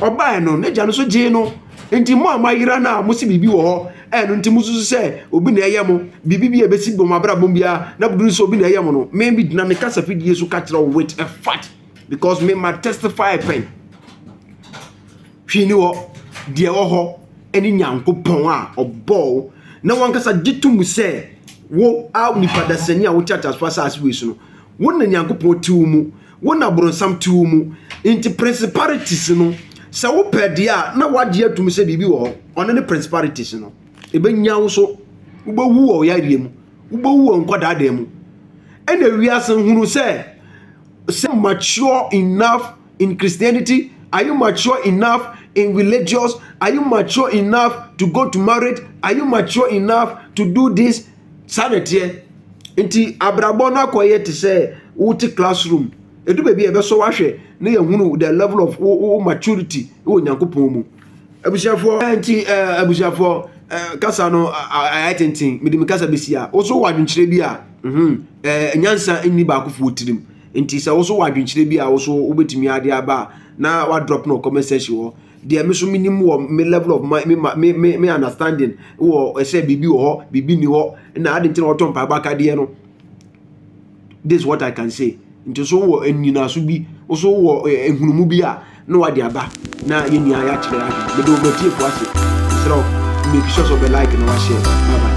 Ɔbaeɛ no, n'agya no nso gyee no. Enti mo a moayera no a mose biribi wɔ hɔ, a ɛno nti mosusu sɛ obi na ɛreyɛ mo, biribi bi a ɛbɛsi wɔ mo abrabɔ mu biara, na moduru sɛ obi na ɛreyɛ mo no, me, megyina me kasafidie so ka kyerɛ wo with a fact, because me ma testify pɛn. Hwee ni hɔ, deɛ ɛwɔ hɔ ne Nyankopɔn a ɔbɔɔ wo, na wankasa gye to mu sɛ wo a nipa dasani a wote ateasefoɔ asase wei so no, wo na Nyankopɔn te wo mu. Wo na bronsam te wo mu. Nti principalities no sɛ wo pɛ deɛ a na wagye atum sɛ biribi wɔ hɔ. Ɔno ne principalities no. Ɛbɛnya wo so. Wobɛwu wɔ ɔyareɛ mu. Wobɛwu wɔ nkwadaa dan mu. Ɛna wiase hunu sɛ sɛ mature enough in Christianity? Are you mature enough in religious? Are you mature enough to go to marriage? Are you mature enough to do this? Saa na ɛteɛ. Nti abrabɔ no akɔyɛ te sɛ wote classroom. Ɛdu baabi a ɛbɛsɔ wahwɛ na yɛhunu the level of wo, wo maturity wɔ Nyankopɔn mu. Abusuafoɔ nti abusuafoɔ kasa no ayɛ tenten. Mede me kasa bɛsi a wo so wɔ adwenkyerɛ bi a mhm nyansa nni baakofoɔ tirim. Nti sɛ wo so wɔ adwenkyerɛ bi a wo so wobɛtumi ade aba a na wadrɔp no wɔ comment section hɔ. deɛ me so me nim wɔ me level of my me ma me me me understanding wɔ ɛsɛ biribi wɔ hɔ biribi ni hɔ na adi nti na wɔtɔ mpaebɔ akadeɛ no this is what i can say nti so wɔ nnyinaso bi so wɔ nhunumu bi a na wade aba na yɛn nyinaa yɛakyerɛ yɛn adwene mede wɔn atiefo ase srɛ make sure sɛ ɔbɛ like na wahyɛ bye bye.